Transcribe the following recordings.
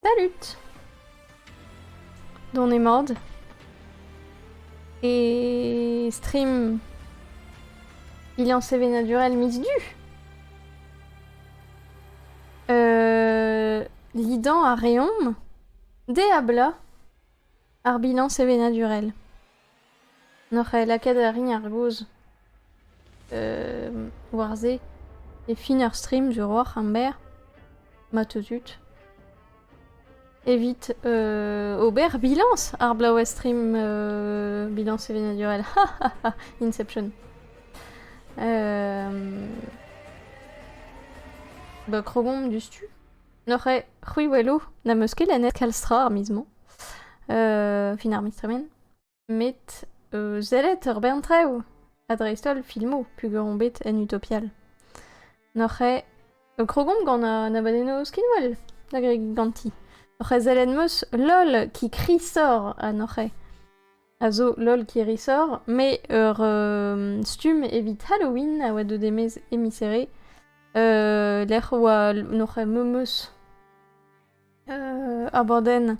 Salut! Dont eo mat. E stream Liañ sevenadurel midi du. Euh, Lidañ a reomp de habla ar bilan sevenadurel. N'oc'h aet lakaat a rin ar gaoz war se e fin ur stream zo roc'h amber ma teu tud evit ober bilañs ar blaouezh stream bilañs sevenadurel Inception. Ba krogomp diouzhtu. N'oc'h ket c'hwi weloù n'am eus ket lennet kalz tra ar miz-mañ. fin ar miz tremen. Met sellet ur bern traoù ha dreist-holl filmoù peogwir on bet en Utopial. N'oc'h ket krogomp gant an abadennoù skinwel da gregin ganti. N'oc'h ket sellet 'm eus LOL qui crie sort ha n'oc'h ket. a zo lol Kirisor, mais ur euh, stumm evit Halloween a oa deuet e-maez emiserre, euh, lec'h oa noc'h memeus euh, ar borden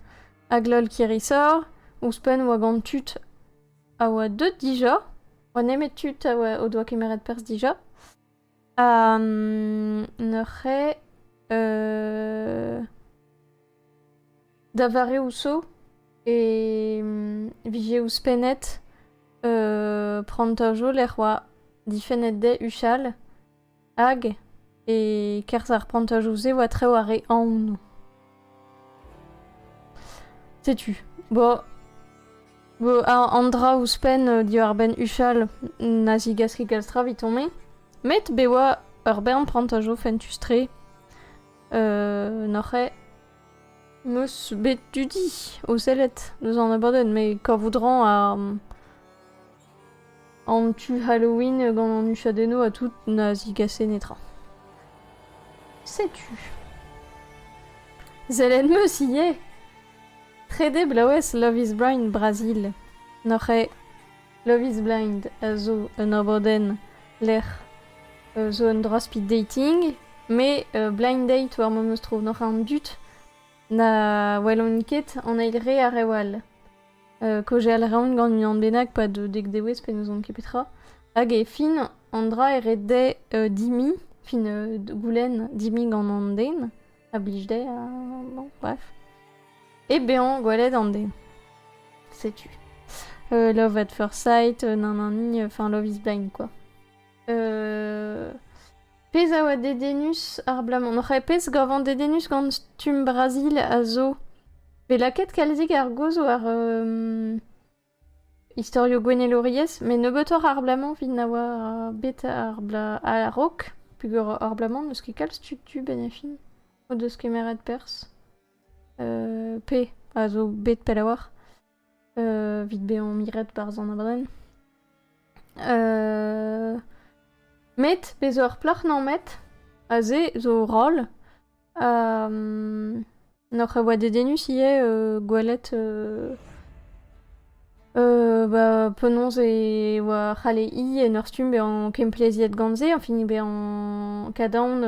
hag lol Kirisor, ouzhpenn oa gant tud a oa deut dija, oa nemet tud a oa, o doa kemeret perzh dija, neuze da vareoù zo e vije ouzhpennet prantajoù lec'h 'oa difennet dezhe huchal hag e-kerzh ar prantajoù-se 'oa traoù ar re aonoù. Setu. Bo, bo an dra ouzhpenn euh, diwar-benn huchal na zigaski kalz tra evitomp-me. Met be oa ur bern prantajo fentus-tre euh, n'oc'h eo meus bet dudi o sellet deus an abadenn, met kavout ran ar... An tu Halloween gant an huchadennoù ha tout na zigase netra. Setu. Sell 'm-eus ivez. Trede bloavezh Love is Blind Brazil. N'oc'h ket Love is Blind a zo un abadenn lec'h euh, zo un dra-speed dating, met euh, blind date war ma meus tro. N'oc'h an dud na welont ket an eil re ar rev all. Kaojal a raont gant unan bennak 'pad dek dewezh pe n'ouzon ket petra. Hag e fin an dra e red dezhe dimiñ, fin goulenn dimiñ gant an den a blij dezhe ha bon bref. E bezañ gwelet an den. Setu. Love at first sight, nanani, enfin Love is blind quoi. Pezh a oa dedennus abalamour n'oc'h ket pezh gavan dedennus gant stumm Brazil a zo. Bet lakaet kalzik ar gaoz war euh, istorioù gouennelouriezh, met nebeutoc'h abalamour evit na oa bet ar bla a-raok, peger abalamour n'eus ket kalz tud du ben e fin o deus kemeret perzh. Euh, pe a zo bet pell a-walc'h. Evit bezañ miret barzh an abrenn. met bez' zo ur plac'h namet, aze zo roll. N'oc'h oa dedennus ivez gwelet ba penaos e oa c'halle hi en ur stumm bezañ kempleziet gant se, enfin bezañ kadarn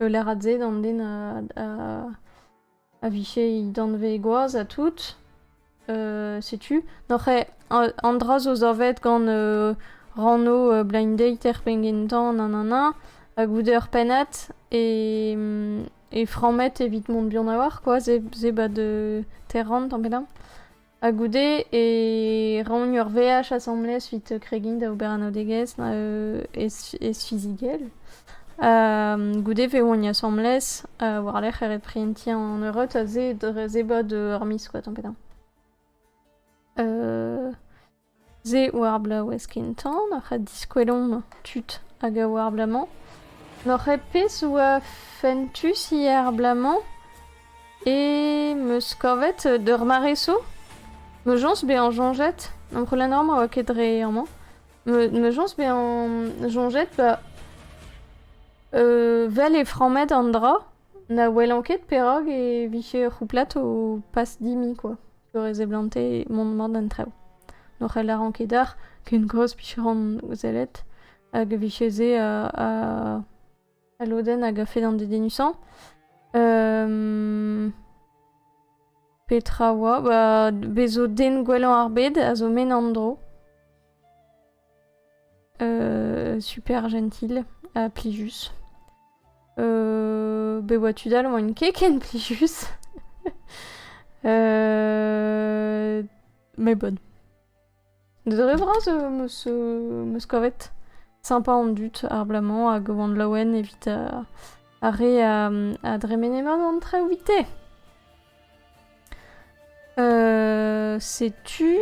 ul lârad se d'an den a a vije he danvez gwaz ha tout. Euh, setu. N'oc'h ket an dra zo savet gant euh, ranno euh, blind date er pengentan, nanana, ha goude ur pennad, e, e frammet evit mont buan a-walc'h, quoi, ze, ze ba de terran, tamm pedañ. Ha goude e raomp ur veaj asambles evit kregiñ da ober anaoudegezh ez-fizigel. goude vezomp asambles war-lerc'h reprezentiñ an eureuds ha se dre zebriñ ur miz koa tamm pe damm. Se oa ar blaouezh kentañ nac'h a diskwelomp tud hag a oa ar bloaz-mañ. Nac'h a pezh oa fentus ivez ar bloaz-mañ eo 'm eus kavet d'ur mare zo, ma soñs bezañ soñjet, amprenañ ma oa ket dre amañ, ma soñs bezañ soñjet ba vel eo frammet an dra, na welan ket perak e vije ur c'houplad o pas dimp kwa. peure e seblante mont mat d'an traoù. Ne c'hellaran ket dar ken gros picheron sellet hag e vije se al lodenn hag a-fet an dedennusañ. petra oa? Ba, bez zo den gwellañ ar bed a zo men an dro. super gentil ha plijus. be oa tud all oant keken plijus. mais bonne. Dre vras meus meus kavet sympa an dud ar blamant hag oant laouen evit ar re a, a dremene mat an traoù vite. Euh, setu...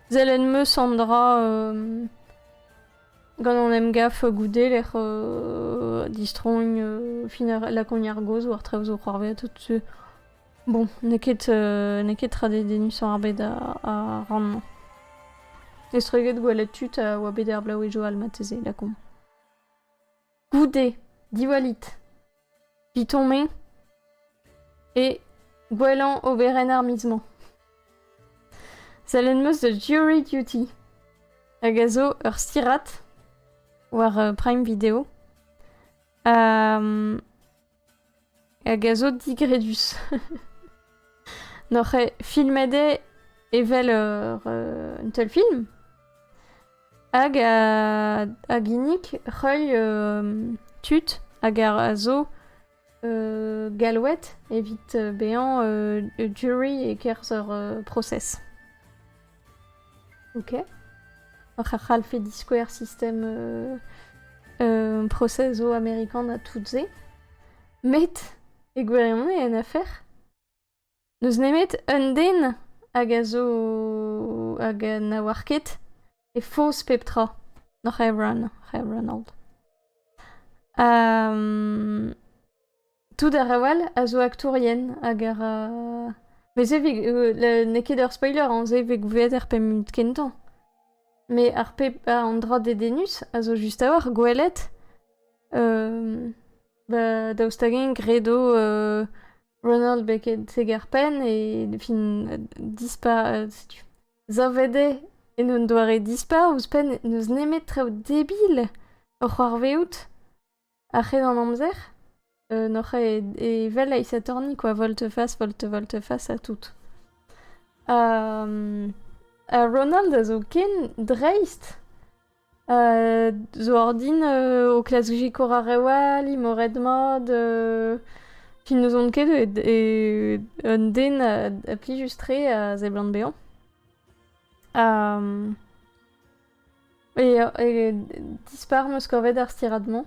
Zelen meus an dra... euh, Gant an emgav goude lec'h euh, distrogn euh, fin ar- lakogn ar gaoz war traoù zo c'hoarvezh tout su. Bon, n'eo ket, euh, n'eo ket tra dedennusañ ar bed a, a ran-mañ. Estreget gwelet tud a oa bet er Blaouejo almateze, lakomp. goude diwallit Vitoñ-me e gwellañ oberenn ar miz-mañ. Sellet 'm eus da Jury Duty, hag a zo ur stirad war Prime Video. hag a zo digredus. N'oc'h filmet eo evel ur, euh, un teulfilm hag a, a ginnig reuil euh, tud hag a zo euh, galwet evit bezañ jury e-kerzh ur process. Ok. Oc'h a c'hallfe diskouer sistem process zo amerikan ha tout-se. Met, e gwirionez, en afer, n'eus nemet un den hag a zo... hag na oar ket e foz pep tra. N'oc'h Evran. Oc'h Evran old. Um... Tout ar reoù all a zo aktourien hag a ra... Met se 'vit... n'eo ket ur spoiler on se 'vit gouiet er pemp minut kentañ. Met ar pep... an dra dedennus a zo just a-walc'h gwelet ba daoust hag-eñ gredo Ronald beket seg ar penn e fin dispa... setu... savet eo en un doare dispa ouzhpenn n'eus nemet traoù debil o c'hoarvezout. A-hed an amzer n'oc'h ket evel aesatorniñ kwa volt-fas, volt-volt-fas ha tout. Ha Ronald a zo ken dreist zo ordin o klask sikour ar re all, imoret-mat, fin n'ouzon ket un den a plijus-tre a seblant bezañ. Ha E, dispar meus kavet ar stirad-mañ.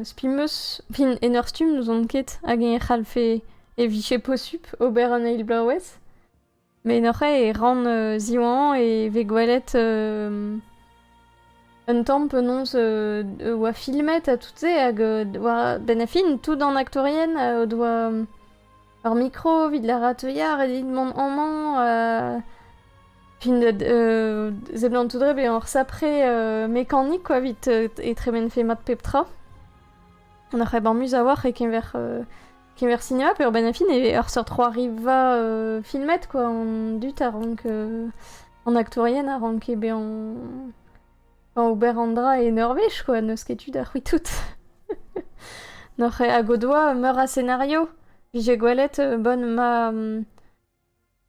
spi meus, fin en ur stumm n'ouzon ket hag-eñ e c'hallfe, e vije posupl ober un eil bloavezh. Met neuze e ran ziwanañ e vez gwelet un tamm penaos oa filmet ha tout-se hag war, benn ar fin, tout an aktourien o doa Ar mikro evit lârat teuiañ ret dit mont amañ fin seblantout-re bezañ ur sapre mekanik quoi evit e tremenfe mat pep tra. An c'hrebamus a-walc'h e-keñver keñver sinema peurbenn a fin e ur seurt c'hoariva filmet quoi an dud a rank an aktourien a ranke bezañ ober an dra en ur wech, quoi. N'eus ket tu da c'hwitout. Noc'h eo hag o doa meur a senario. J'ai gwelet euh, bonne ma...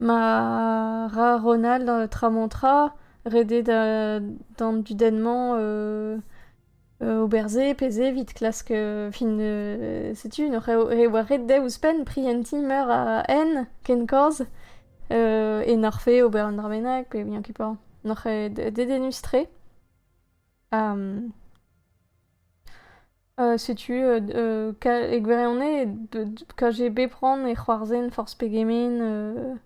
ma ra Ronald euh, tramontra redet euh, dans du dennement euh, au berze peze vit klask fin setu noc'h eo re oa ret dez ouzhpenn prientiñ meur a en ken koz e nac'hfe ober un dra bennak pe vihan ket pas. Nac'he dedennus-tre. Ha setu e gwirionez KGB prant e c'hoarzhin forzh pegement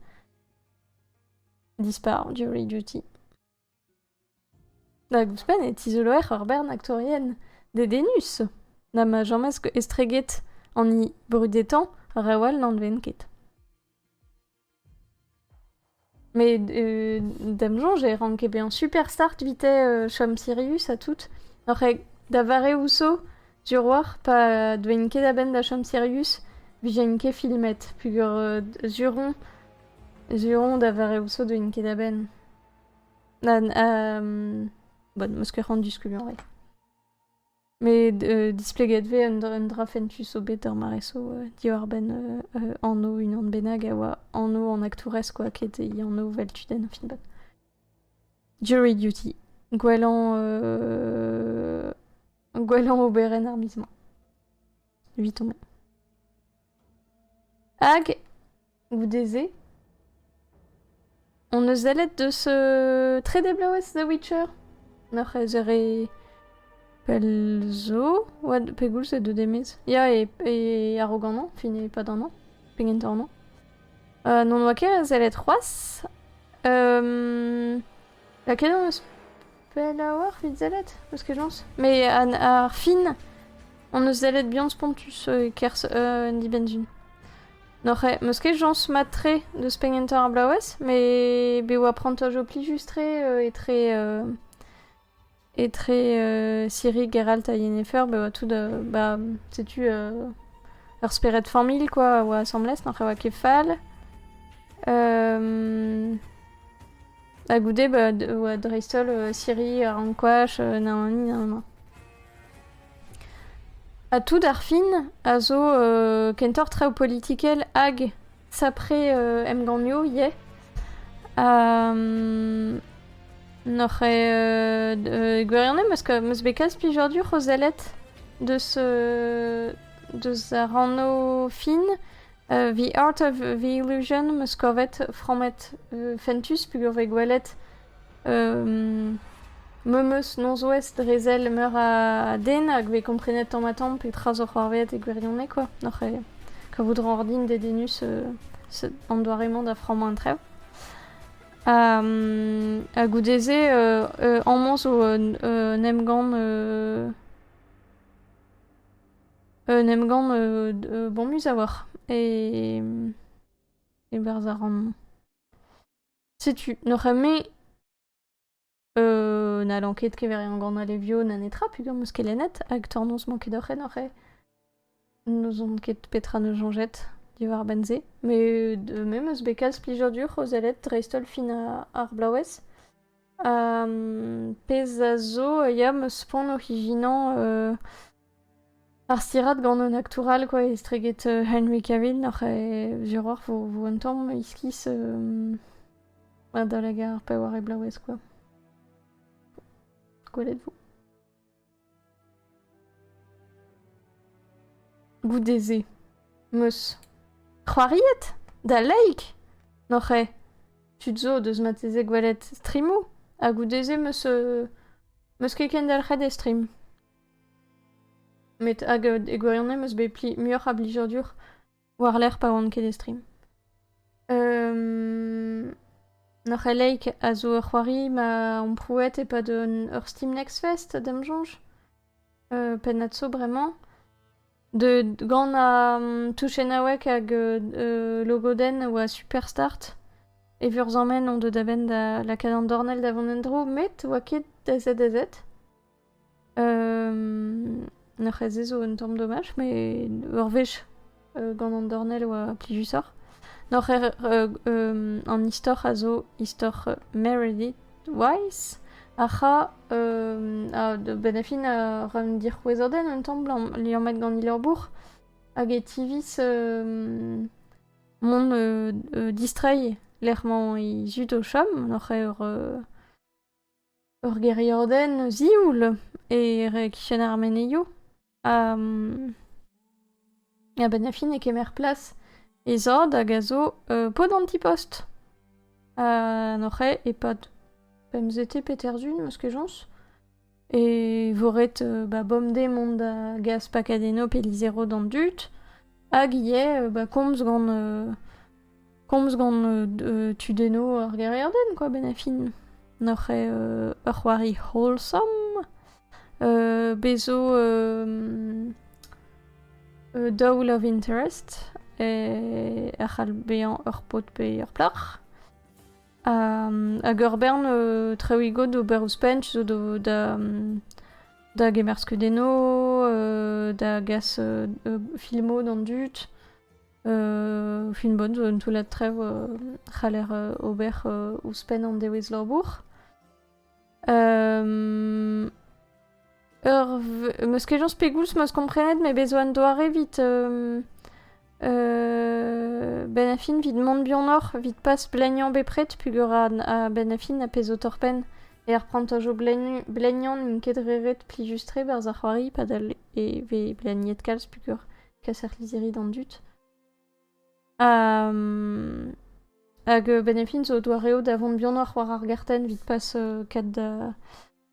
dispar duty. Hag ouzhpenn e tizoloer ur bern aktourien dedennus na ma james estreget an hini brudetañ rev all n'anvent ket. Mais d'am soñj e ranke bezañ superstar evite euh, chom Sirius ha tout. Oc'h da vare Ousso, sur oc'h pa deuint ket a-benn da chom Sirius, vijent ket filmet, pugur euh, sur on, sur on da vare Ousso deuint ket a-benn. Bon, meus ket c'hoant diskuliañ ivez. Met displeget vez un dra fentus zo bet d'ur mare-so diwar-benn anv unan bennak a oa anv an aktourez kwa ket e anv 'vel tudenn ar film-bat. Jury duty. Gwellañ gwellañ oberenn ar miz-mañ. Evit on. Hag Goude-se hon eus sellet deus euh, trede bloaz The Witcher. Noc'h ez ere pell zo, oa pegoulz e deude mes. Ya, e, e arog annañ, fin e pad annañ, pegen ta annañ. Euh, N'on oa ket sellet c'hoazh. Euh, laket hon eus Pellaouac'h evit sellet Eus kejañs Met an- ar fin hon eus sellet buan spontus e-kerzh an dibenn-sun. N'oc'h eo- m'eus ket jañs mat-tre deus penn kentañ ar bloavezh met bez 'oa prantaj ho plijus-tre etre etre Sirig, Geralt ha Yennefer be 'oa tout ba setu ur spered familh kwa a oa asambles, n'oc'h eo ket fall. Ha goude ba oa dreist-holl Siri, ar ankouaach, Naomi, Naoma. Ha tout ar fin a zo kentoc'h traoù politikel hag sapre emgannioù ivez. Ha n'oc'h ket gwirion am eus meus bet kalz plijadur o sellet deus deus ar anv fin Evit art a Villeugen 'm eus kavet frammet fentus peogwir 'vez gwelet memes norzh-ouest dre sell meur a den hag 'vez komprenet tamm-ha-tamm petra zo c'hoarvezet e gwirionez kwa, oc'h kavout a ra ordin dedennus an doare-mañ da frammañ an traoù. Ha goude-se amañ zo un emgann Un emgann bomus a-walc'h. E e-barzh ar rann. Setu, n'oc'h ket-me n'hallan ket kever e emgann Alevio na netra pugañ meus ket lennet hag tornoz 'mañ ket doc'h en oc'h-e? N'ouzon ket petra 'neus soñjet diwar-benn-se. Me me 'meus bet kalz plijadur o sellet dreist-holl fin ar blaouez. Pezh a zo ya 'meus poan oc'h ijinañ Ar stirad gant un aktour all quoi, estreget euh, Henry Cavill oc'h e zuroc'h vo, vo un tamm iskis euh, da lag ar paour e blaouez quoi. Gwelet vo. Goude-se. Meus. C'hoariet? Da leik? N'oc'h e? Tud zo deus mateze gwelet streamou, ha goude-se meus euh, meus ket kendalc'het e stream. Met hag e gwirionez 'm eus bet pli muioc'h a blijadur war-lerc'h pa oan ket e stream. Ur c'heleig a zo ur c'hoari ma amprouet e-pad ur Steam Next Fest, da'm soñj, pennad zo bremañ, deuet gant an touchennaoueg hag logodenn a oa super start. E vurzammen on deuet a-benn da lakaat an dornell da vont en-dro met oa ket da zet da zet. Ur c'hezh zo un tamm domaj, met ur wech gant an dornell e oa plijusoc'h. Noc'h an istor a zo istor Meredith Wise, ar c'hra a-benn ar fin a ra un dic'houezerden un tamm liammet gant he labour, hag e tiviz mont distreiñ lec'h mañ he zud o chom, noc'h eo ur Ur gêriadenn zioul e e-kichen ar menezioù. A-benn ar fin e kemer plas e zad hag a zo paotr an ti-post. Anoc'h eo e-pad pemzete peterzun 'm eus ket soñs. E vo ret ba bemdez mont da gas pakad eno pe lizero d'an dud. Hag ivez ba komz gant komz gant euh, tudenno ur gêriadenn, quoi, ben a fin. N'oc'h eo euh, ur c'hoari wholesome, euh, bezo euh, euh, Daw Love Interest, e ur c'hall bezañ ur pod pe ur plac'h. hag ur bern euh, trewigo d'ober ouzhpenn zo da, da gemer skeudenno, euh, da gas euh, filmo d'an dud, Fin bon zo un toullad trev c'haller ober ouzhpenn an dewezh labour. ur v- meus ket jañs pegoulz 'meus komprenet met bez' zo un doare 'vit benn a fin 'vit mont buanoc'h, 'vit pas bleniañ bepred peogwir a-benn a fin a pezh zo torr-penn er prantajoù bleniñ- bleniañ n'int ket re ret plijus-tre 'barzh ar c'hoari padal e vez bleniet kalz peogwir peseurt lizhiri d'an dud. Um, hag euh, Benefin zo doareoù da vont bihanoc'h war ar gartenn vit pas euh, kat da,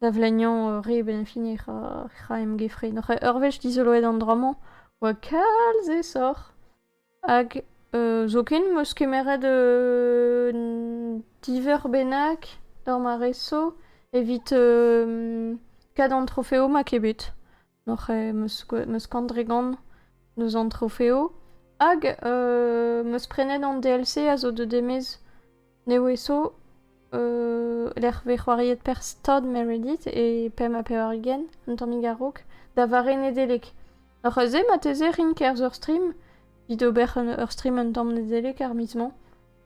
da vlagnan euh, re Benefin e ra, ra em gefre. Noc'h ur wech dizoloet an dra-mañ, oa kalz e soc'h. Hag euh, zoken meus kemeret euh, diver bennak d'ur ma reso evit euh, kad an trofeo ma ket bet. Noc'h eo meus Kandregan eus an trofeo. Hag euh, meus prenet an DLC a zo deut e-maez neveso euh, lec'h vez c'hoariet per stad Meredith e pemp ha pevar-ugent, un tammig a-raok, da vare Nedeleg. Noc'h eus se marteze rin kerzh ur stream, evit ober ur stream un tamm Nedeleg ar miz-mañ.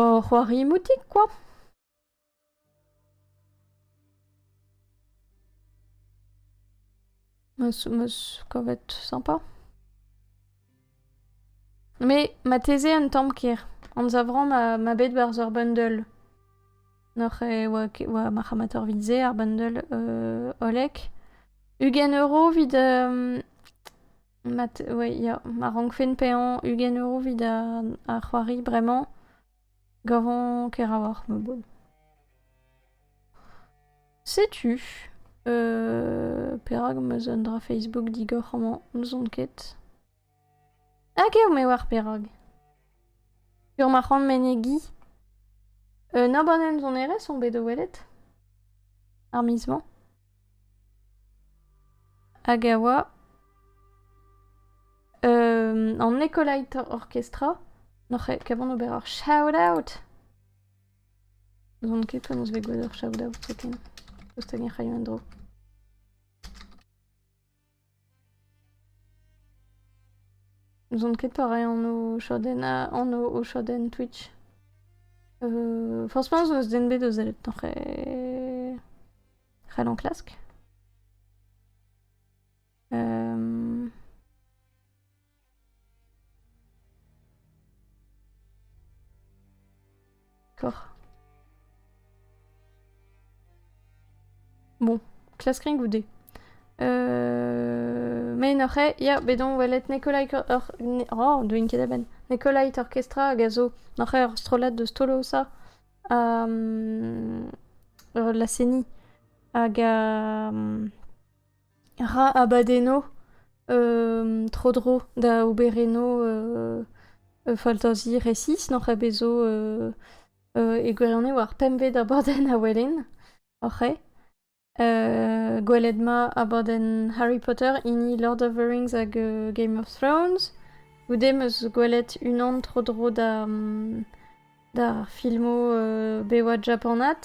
Ur c'hoari moutik kwa ? Meus 'meus kavet sympa. Mais marteze un tamm ker. Anzavran ma, ma bet barzh ur bundle. Noc'h e oa, ke- oa marc'hamator evit se, ar bundle euh, hollek. Ugent euro evit Mat, oui, ya. Ma rankfen paeañ ugent euro evit ar c'hoari bremañ, gavon Keravoc'h, ma bod. Setu euh, perak ma'z un dra Facebook digor amañ, n'ouzon ket. Hag eo me war perak. Sur ma c'hoant menegi. Un abanenn sonerezh on bet o welet. Ar miz-mañ. Hag a oa an Ecolator Orchestra. N'oc'h ket ket vont ober ur shout-out? N'on ket penaos bet gwelet ur shout-out zoken. Tost hag-eñ 'raio un dro. N'ouzon ket torreiñ anv chadenn anv o chadenn Twitch. Euh, franchement, zo eus den bet o sellet en c'hre... c'hell enklask. Euh... D'accord. Bon, classe gring ou D Euh... Mein oc'he, ya, bet on welet Nikolai... Or... Ne... Oh, doin ket eben. Nikolai Orkestra hag a zo noc'h ur strollad deus Tolo sa ha um, la seni hag a... um, ra abadenno tro-dro da ober eno faltazi resis n'oc'h ket bet zo e gwirionez oar pempvet abadenn a welen oc'h eo gwelet 'ma abadenn Harry Potter hini Lord of the Rings hag Game of Thrones goude 'm eus gwelet unan tro-dro d'ar filmo bewad japanat.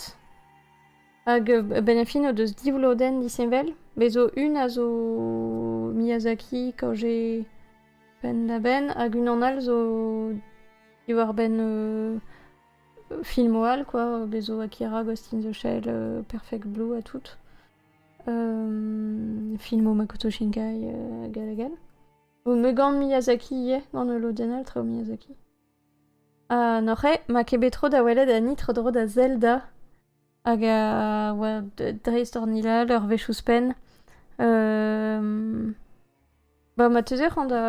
Hag a-benn ar fin o deus div lodenn disheñvel. Bez' zo un a zo Miyazaki quand j'ai penn-da-benn, hag unan all zo diwar-benn euh, filmoù all, quoi. Bez' zo Akira, Ghost in the Shell, euh, Perfect Blue ha tout. Euh, filmoù Makoto Shinkai, euh, hag all hag all. Zo me gant Miyazaki ivez, gant ul lodenn all, traoù Miyazaki. Ha n'oc'h ket ma ket bet tro da welet ani tro-dro da Zelda hag a oa dreist hor nilal ur wech ouzhpenn. Ba ma teuze c'hoant da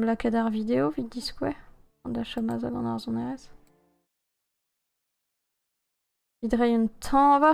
lakaat ar video evit diskouez, da chom azad an arzhonerezh. Evit reiñ un tañva.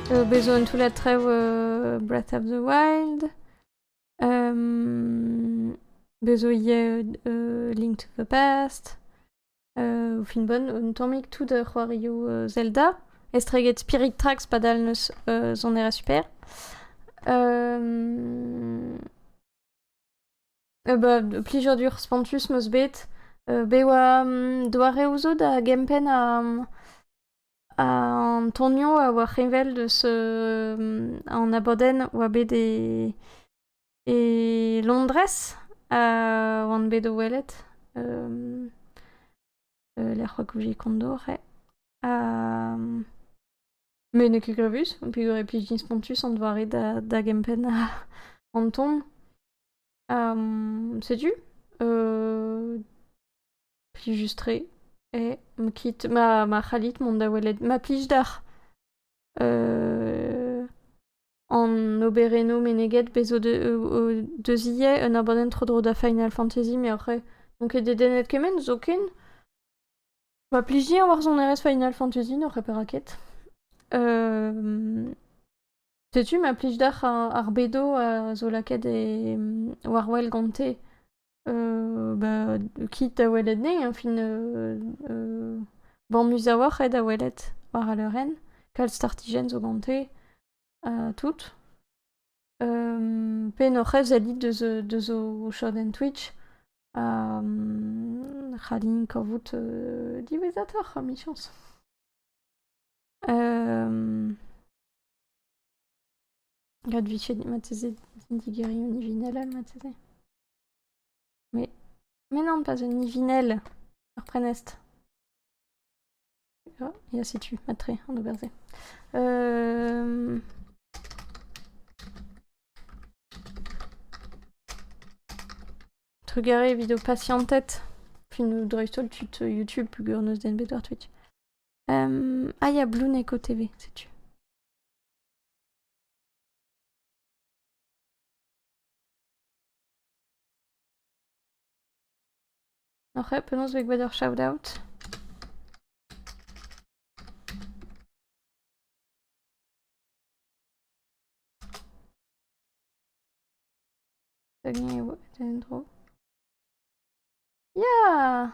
Eo bet zo un toullad traoù Breath of the Wild. Bez zo ivez Link to the Past. O fin bon, un tammig tout da c'hoarioù Zelda. Estreget Spirit Tracks padal n'eus sonera super. Bah, plijadur dur spontus meus bet. Bet oa doareoù zo da gempenn ha An tonioù a oa heñvel deus an abadenn oa bet e Londrez a oan bet o welet lec'h oa goude Kondor eo ha met n'eo ket grevus peogwir e plij din spontus an doare da gempenn an ton. Setu. Plijus-tre. Eh, ma kit, ma, ma c'hallit mont da welet ma plij deoc'h. an oberennoù meneget bez o deus ivez un abadenn tro-dro da Final Fantasy meoc'h eo. N'on ket dedennet kement, zoken. Ma plijiñ ar varzhonerezh Final Fantasy n'oc'h perak ket. Setu ma plij deoc'h ar bedo a zo lakaet e war wel gante. Bah keit da welet anezhi hein, fin bamus a-walc'h eo da welet war al leurenn. Kalz startijenn zo gante ha tout. pe n'hor c'hef sellit deus ho chadenn Twitch ha c'hallin kavout diwezhatoc'h emichañs. Gant vichendi marteze, digerion ivinel all marteze. Mais, mais non, pas un ivinel, ur prenestr. Ah, ya setu, matre, an ober-se. Euh... Trugarez evit ho patientet. Fin dreist-holl tud YouTube, plugur neus den bet war Twitch. Um, ah ya, Blue Neko TV, setu. Ok, penaos vez gwelet ur shout-out Dagny eo, et endro. Ya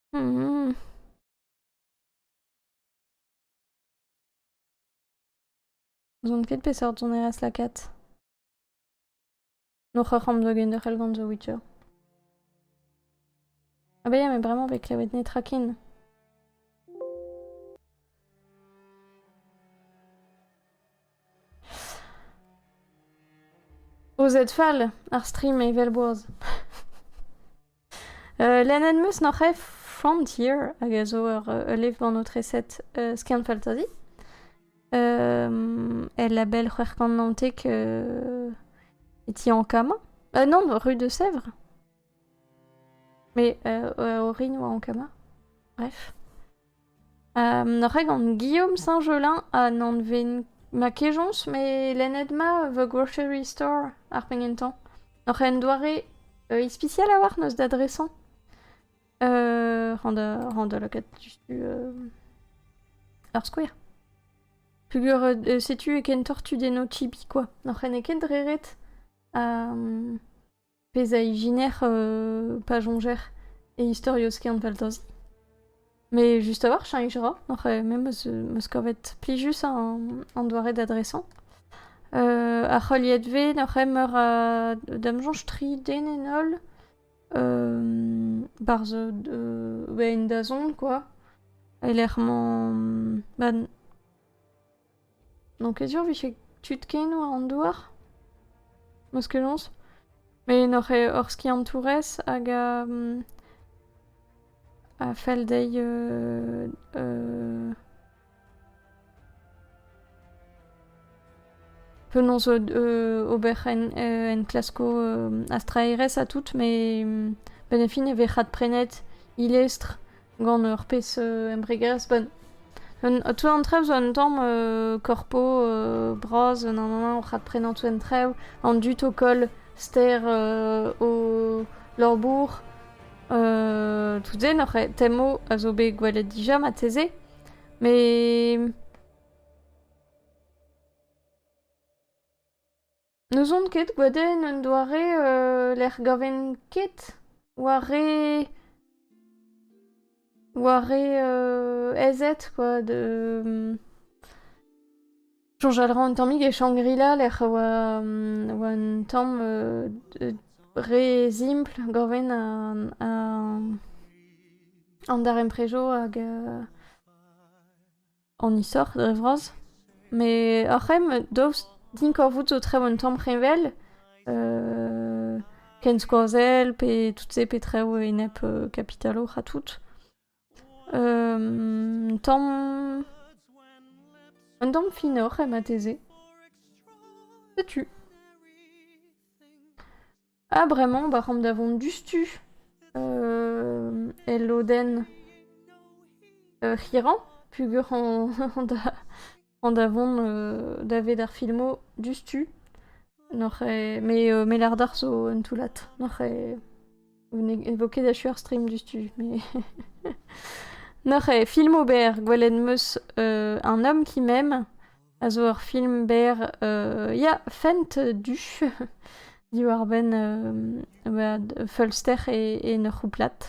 N'ouzon ket peseurt sonerezh lakaat. N'oc'h ar c'hamp da genderc'hel gant The Witcher. Ha bezañ me bremañ bet klevet netra ken. Ozet fall, ar stream evel boaz. Lennet 'm eus noc'h eo Frontier hag a zo ur levr aotreset skiant-faltazi. El label c'hwec'h kant naontek e ti Ankama. non, rue de Sèvres. Mais orin oa Ankama, bref. N'oc'h ket gant Guillaume Saint-Gelin ha n'anven ma kejañs met lennet ma The Grocery Store ar penn gentañ. Oc'h en doare euh, ispisial a-walc'h n'eus da dresañ. Euh, ran da, ran da lakaat diouzhtu euh, ur skouer. Peogwir euh, setu ken tortu d'eno tibi kwa. N'oc'h ket dre ret. Ha... pezh a ijiner pa soñjer e istorioz Kerneveldoz. Mais juste a-walc'h chañch a ra, oc'h me 'meus meus kavet plijus an doare d'adresañ. ar c'heuliadvezh oc'h meur a damsoñj, tri den en holl, barzh en dazont, quoi, e-lec'h mañ... ma... N'on ket sur 'vije tud kenoù an douar. Meuskeloñs. Met n'oc'h ket hor skiantourez hag a a fell dezhi penaos ober enklaskoù a straerezh ha tout, met benefin e vez adprenet e lestr gant ur pezh embregerezh benn. tu an trev zo un tamm korpo bras un anv oc'h adprenañ tu an trev, an dud o koll ster o labour, tout se n'oc'h temo a zo bet gwelet dija marteze, met... N'ouzon ket, gwadenn un doare lec'h gaven ket war re war re aezet quoi de soñjal 'ra an tammig e Shangri-La lec'h a oa oa un tamm re simpl gaven an darempredioù hag an isoc'h dre vras. Met ar c'hemm, daoust din korvout zo trev un tamm c'heñvel, ken skoazell pe tout se pe trev enep kapital oc'h ha tout. un tamm... un tamm finoc'h eo marteze. Setu. Ah, bremañ, bah, c'homp da vont diouzhtu euh, el lodenn euh, c'hirañ, pugur an da, an da vont euh, daved ar filmo diouzhtu. N'oc'h eo... Mais, euh, mais lardar zo un toullad. N'oc'h eo... Vez ket achu ar stream diouzhtu, mais... N'oc'h eo filmo berr gwelet 'm eus euh, un homme qui m'aime. a zo ur film berr ya, Fent du diwar-benn feulster en ur c'houplad.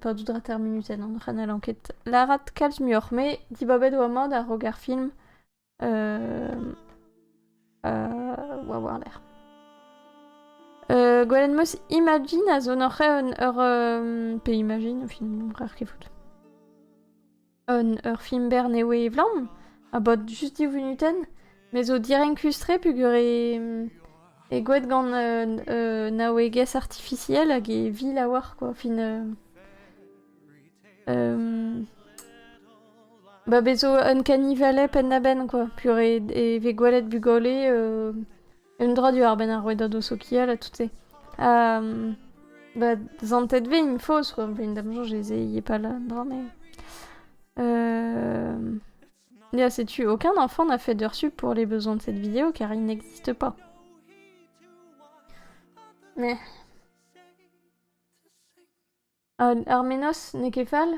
pa dud ra terminuten an c'hanal anket. Lârat kalz muioc'h, me dibabet oa mat a-raok ar film Oa war-lerc'h. Gwelenn-'meus Imagine a zo noc'h ur... pe Imagine, finalement, bref, ket fout. Ur film bernewe evlamm, a-bod just div vunutenn, me zo direnkus-tre peogwir e goued gant naouegezh artifisiel hag e vil a oar, quoi. Fin... Ba bez zo un kanivalez penn-da-benn quoi, purée e vez gwelet bugale un dra diwar-benn ar rouedadoù sokial ha tout-se. Ha ba zantet vez int faos quoi, vent da'm soñj ez eo pas là un dra mais ya setu aucun enfant n'a fait d'heure sup pour les besoins de cette vidéo car il n'existe pas. Mais... An ar menoz n'eo ket fall,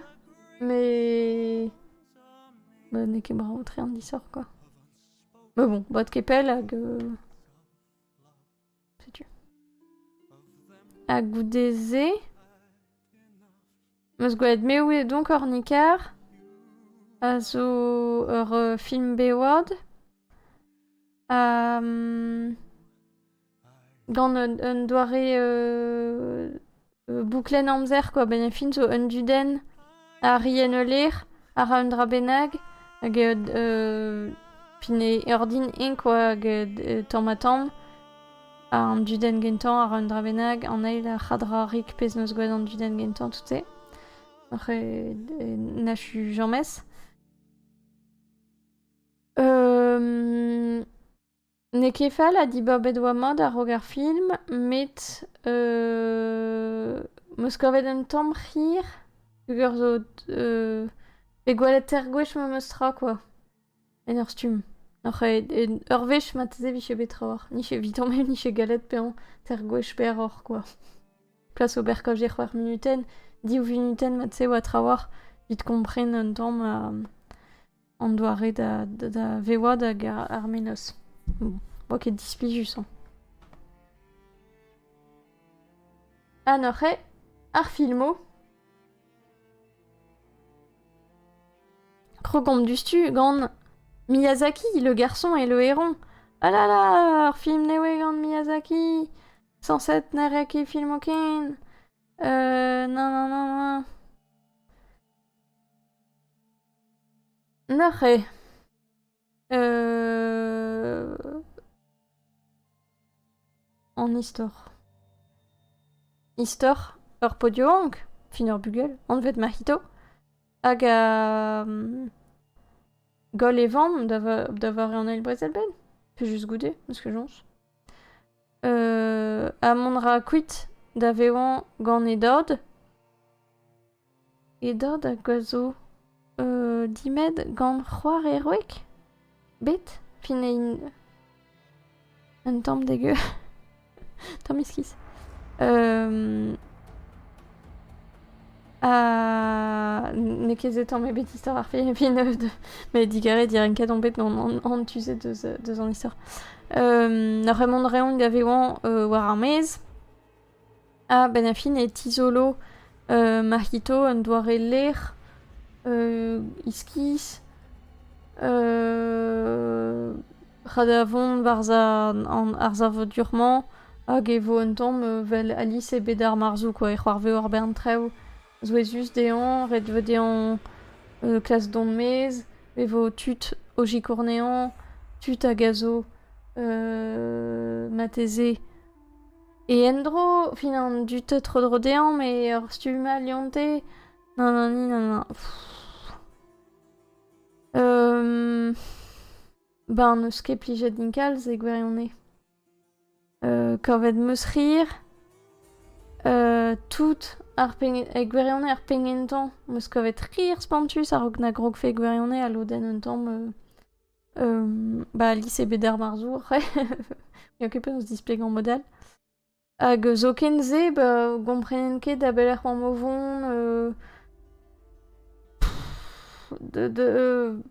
met bah n'eo ket bremañ tre an disoc'h quoi. Mais bon, bod ket pell hag euh, setu. Ha goude-se, 'meus gwelet Me Who Est Donc Hornicar, a zo ur film Bayward. ha mm. Gant un doare bouklenn amzer quoi, benefit zo un dudenn a ri en ul lec'h, a ra un dra bennak hag fin e ordin-eñ quoi hag tamm-ha-tamm. Ha an dudenn gentañ a ra un dra bennak, an eil a c'hadra rik pezh 'neus gwraet an dudenn gentañ tout-se. N'achu james. N'eo ket fall ha diborbet oa mat a-raok ar film, met m'eus kavet un tamm c'hir, peger zo euh, pe gwellater gwech memes tra kwa, en ur stumm. Oc'h en ur wech marteze 'vije bet trawalc'h, n'ije evitañ met n'ije gallet bezañ ter gwech pe aroc'h kwa. Plas ober kaoz e c'hwec'h munutenn, div vunutenn marteze oa trawalc'h, evit kompren un tamm ha an doare da, da, vevaat hag ar menoz. Boa ket displijus hañ. Ha n'oc'h eo ar filmoù Krogomp duztu gant Miyazaki, le garçon et le héron. Ah là là, ar film ne oe gant Miyazaki. Sans être narraki film aucun. Euh, non, non, non, non. Neuze an istor. Istor ur pod-yaouank, fin ur bugel anvet Mahito, hag goll e vamm da vare an Eil Brezel-bed, plijus goude, parce que joñs. ha mont 'ra kuit da vezañ gant e dad. Edod hag a zo dimet gant c'hoar heroek bet fin un tamm degeù, tamm iskis. ha n'eo ket se tamm ebet istor ar film fin met digarez direnket on bet an tu se deus an istor. Ar re-mañ reont da vezañ war ar maez. A-benn ar fin e tizolo Marc'hito un doare lec'h iskis ra da vont ar savadur-mañ hag e vo un tamm vel Alice e bed ar marzoù kwa e c'hoarveo ar bern traoù souezhus dezhañ ret vo dezhañ klask dont maez e vo tud o sikournañ tud hag a zo marteze E endro, fin an dud tro-dro dezhañ, met ur stumm all Leonte. Non, non, non, non, non. Euh... Ben, n'eus ket plijet din kalz e gwirionez. Euh, kavet 'm eus rir. Euh, tout ar pengen... E gwirionez ar pegen-tañ. 'm eus kavet rir spontus a-raok na grogfe gwirionez ha lodenn un tamm... euh... ba lise bet er marzour, n'eo ket penaos displegañ mod-all. Hag zoken-se, ba gomprenen ket da belec'h oamp o vont, euh de de euh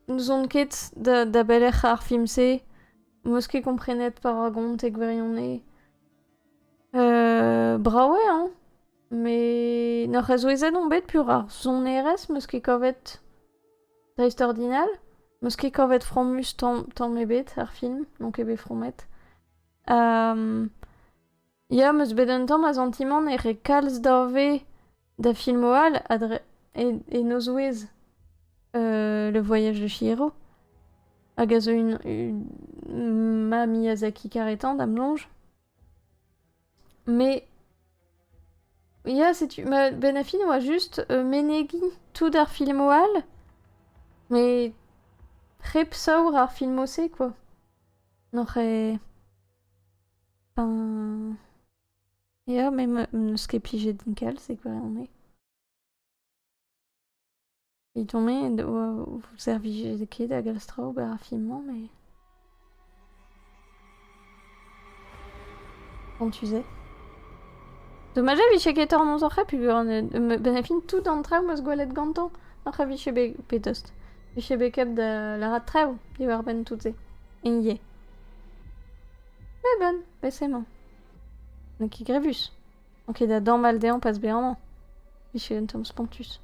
n'ouzon ket da da belec'h ar film-se, m'eus ket komprenet pa ra gont e gwirionez. brav eo hein, met n'ur c'hezouezhet on bet, pur ar sonerezh 'meus ket kavet. Dreist-ordinal. 'Meus ket kavet fromus tamm ebet er film, n'on ket bet fromet. Ya, 'meus bet un tamm a santimant e re kalz dave da filmoù all e nozvouezh Le Voyage de Chihiro, hag a zo ma Miyazaki karetan, da'm soñj. Mais... Ya, setu... Ma benafin oa just euh, menegiñ tout ar filmoù all, mais hep saour ar filmoù-se, quoi. N'oc'h ket... Enfin... Ya, mais me- n'eus ket plijet din kalz, c'est quoi on est. Evidon-me o servije ket da galz traoù war ar fin-mañ met... Bon, tu sais. Dommage e vije ket hormoz oc'h peogwir benn ar fin tout an traoù 'meus gwelet gantañ oc'h a vije bet petost. Vije bet kavet da lâret traoù diwar-benn tout se. Enier. Mais bon, bet c'est emañ. N'eo ket grevus. Ok, da damall dezhañ pas bezañ amañ. Michel un tamm spontus.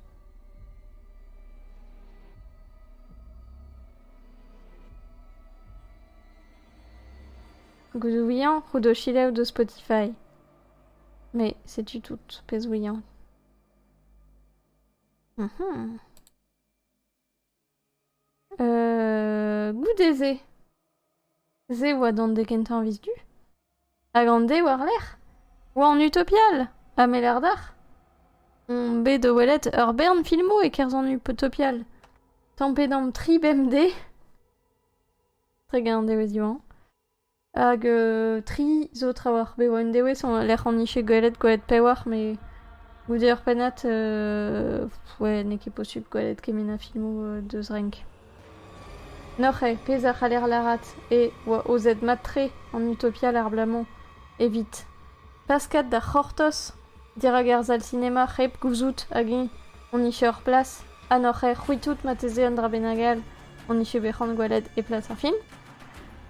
Gouzoùiañ rout ho selaou deus Spotify. Mais setu tout, pezh ouiañ. Mhm. goude-se, se a oa d'an de kentañ a viz du, hag an de war-lerc'h oa an Utopial, ha me lar d'ac'h, on bet o welet ur bern filmoù e-kerzh an Utopial, tampet omp tri bemdez, hag un dewezh Diwan. Hag tri zo trawalc'h bev un dewez lec'h on ije gwelet gwelet pewalc'h met goude ur pennad ouais n'eo ket posupl gwelet kement a filmoù deus renk. Noc'h eo pezh a c'haller lârat eo oa aozet mat-tre an Utopia l'ar bloaz-mañ evit. Paskat da c'hortoz dirak arsal sinema hep gouzout hag-eñ hon dije ur plas ha n'hoc'h ae c'hwitout marteze un dra bennak all hon dije bet c'hoant gwelet e plas ar film.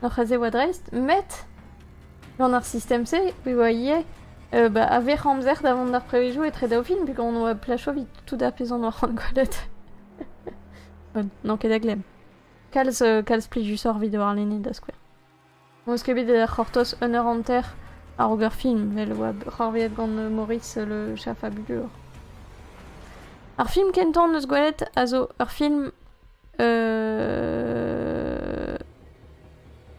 N'hoc'h eus e oa dreist, met gant ar sistem-se e oa ivez euh, bah, a-vec'h amzer da vont d'ar prevezioù etre daou film pegañ on oa placho evit tout ar pezh on oa c'hoant gwelet. n'on ket da glemm. Kalz, euh, kalz plijusoc'h evit warlene da skouer. N'eus ket bet da c'hortoz un eur hanter a-raok ar fin met e oa c'hoarvezhet gant Maurice Le Chafabulur. Ar film kentañ en deus gwelet a zo ur film euh...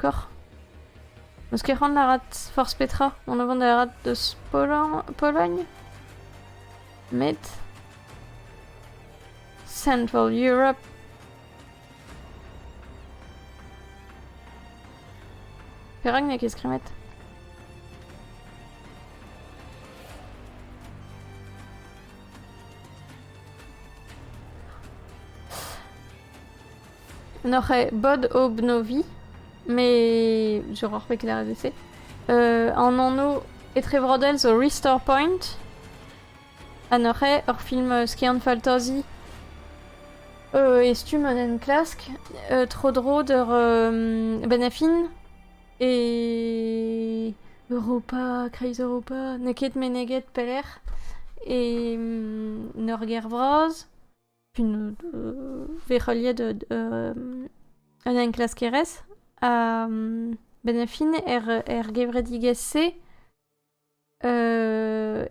Koc'h. N'eus ket c'hoant da arat forzh petra. On a vont da arat deus Pologne. Met... Central Europe. Perak n'eo ket skrivet N'oc'h bod obnovi, mais je reprends que la RDC. Euh, en anno etrevrodel zo Restore Point. Ha neuze ur film skiant-faltazi e stumm un enklask tro-dro d'ur benn-ha-fin e Europa, Kreiz-Europa, n'eo ket meneget pelec'h, e en ur gêr vras, vez heuliet un enklaskerez, ha benn-ha-fin er gevredigezh-se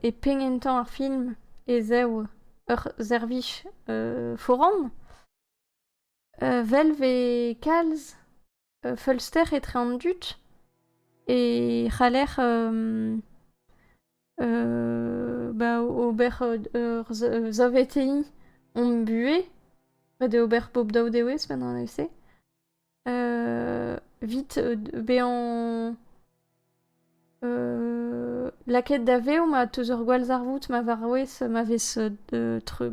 E penn entañ ar film ez eo ur servij foran. Well 'vez kalz feulster etre an dud e c'haller ba ober ur saveteiñ hom buhez ret eo ober pep daou dewezh benn an evse. Vit bezañ lakaet da vev ma teus ur gwall zarvoud ma vaouez ma vez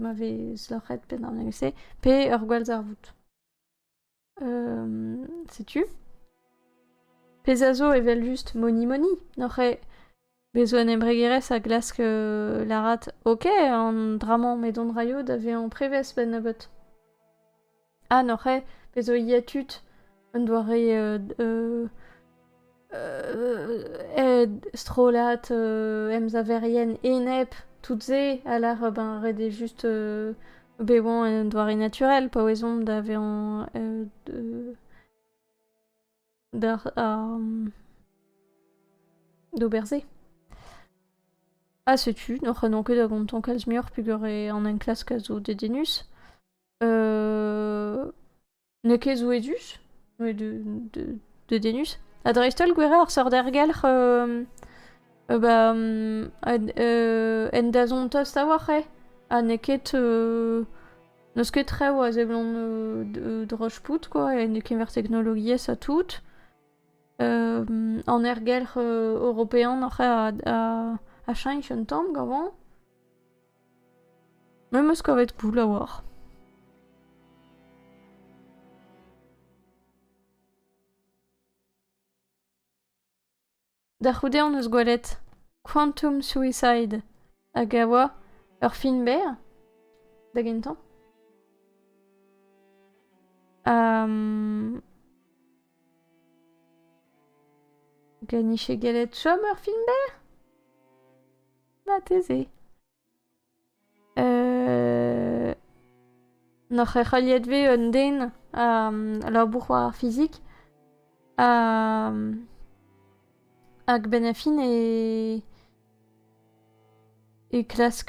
ma vez loc'het pe d'an evel-se pe ur gwall zarvoud. Setu. Pezh a zo evel-just monimoni n'oc'h ket. Bez 'zo un embregerezh a glask lârat ok an dra-mañ m'edon raio da vezañ prevez 'benn nebeut. Ah n'oc'h ket bez 'zo ivez tud un doare strollad emsaverien enep tout se a lâr ben ret eo just bet 'oant un doare naturel paouez omp da vezañ d'ober-se. Ha setu, n'oc'h n'on ket da gontañ kalz muioc'h pugure an enklask a zo dedennus. n'eo ket zo edus, met dedennus. Ha dreist-holl gwerañ ar seurt ergelc'h ba en dazont tost a-walc'h eo. Ha n'eo ket N'eus ket traoù a seblant euh, droch-pout, quoi, en kemer teknologiezh ha tout. an ergelc'h european oc'h a cheñch un tamm gavañ. Me 'm eus kavet poull a-walc'h. Da c'houde hon eus gwelet Quantum Suicide hag a oa ur film berr da gentañ. Glenn iche gellet chom ur film berr? Marteze. N'oc'h ket heuliet vez un den a labour war ar fizik hag benn ar fin e klask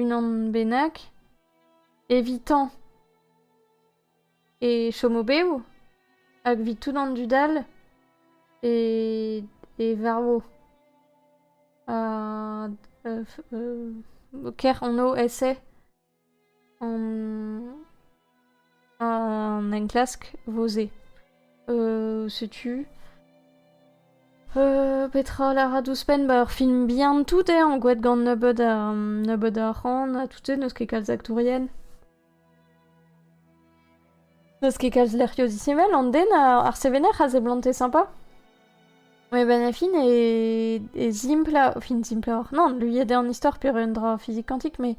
unan bennak evitañ e chom o-bev hag 'vit tout an dud all e e varv ha ker anv ese An... An enklask 'vo-se. Euh, setu... Euh, petra lâra d'ouzhpenn ba ur film bihan tout eo angoet gant nebeud, a, nebeud a c'han ha tout eo n'eus ket kalz aktourien. N'eus ket kalz lec'hioù disheñvel, an den, ar sevener a seblante sympa. Met ben a fin e, e zimpla, fin simploc'h, non, luiet eo an istor pur un dra fizik kantik, mais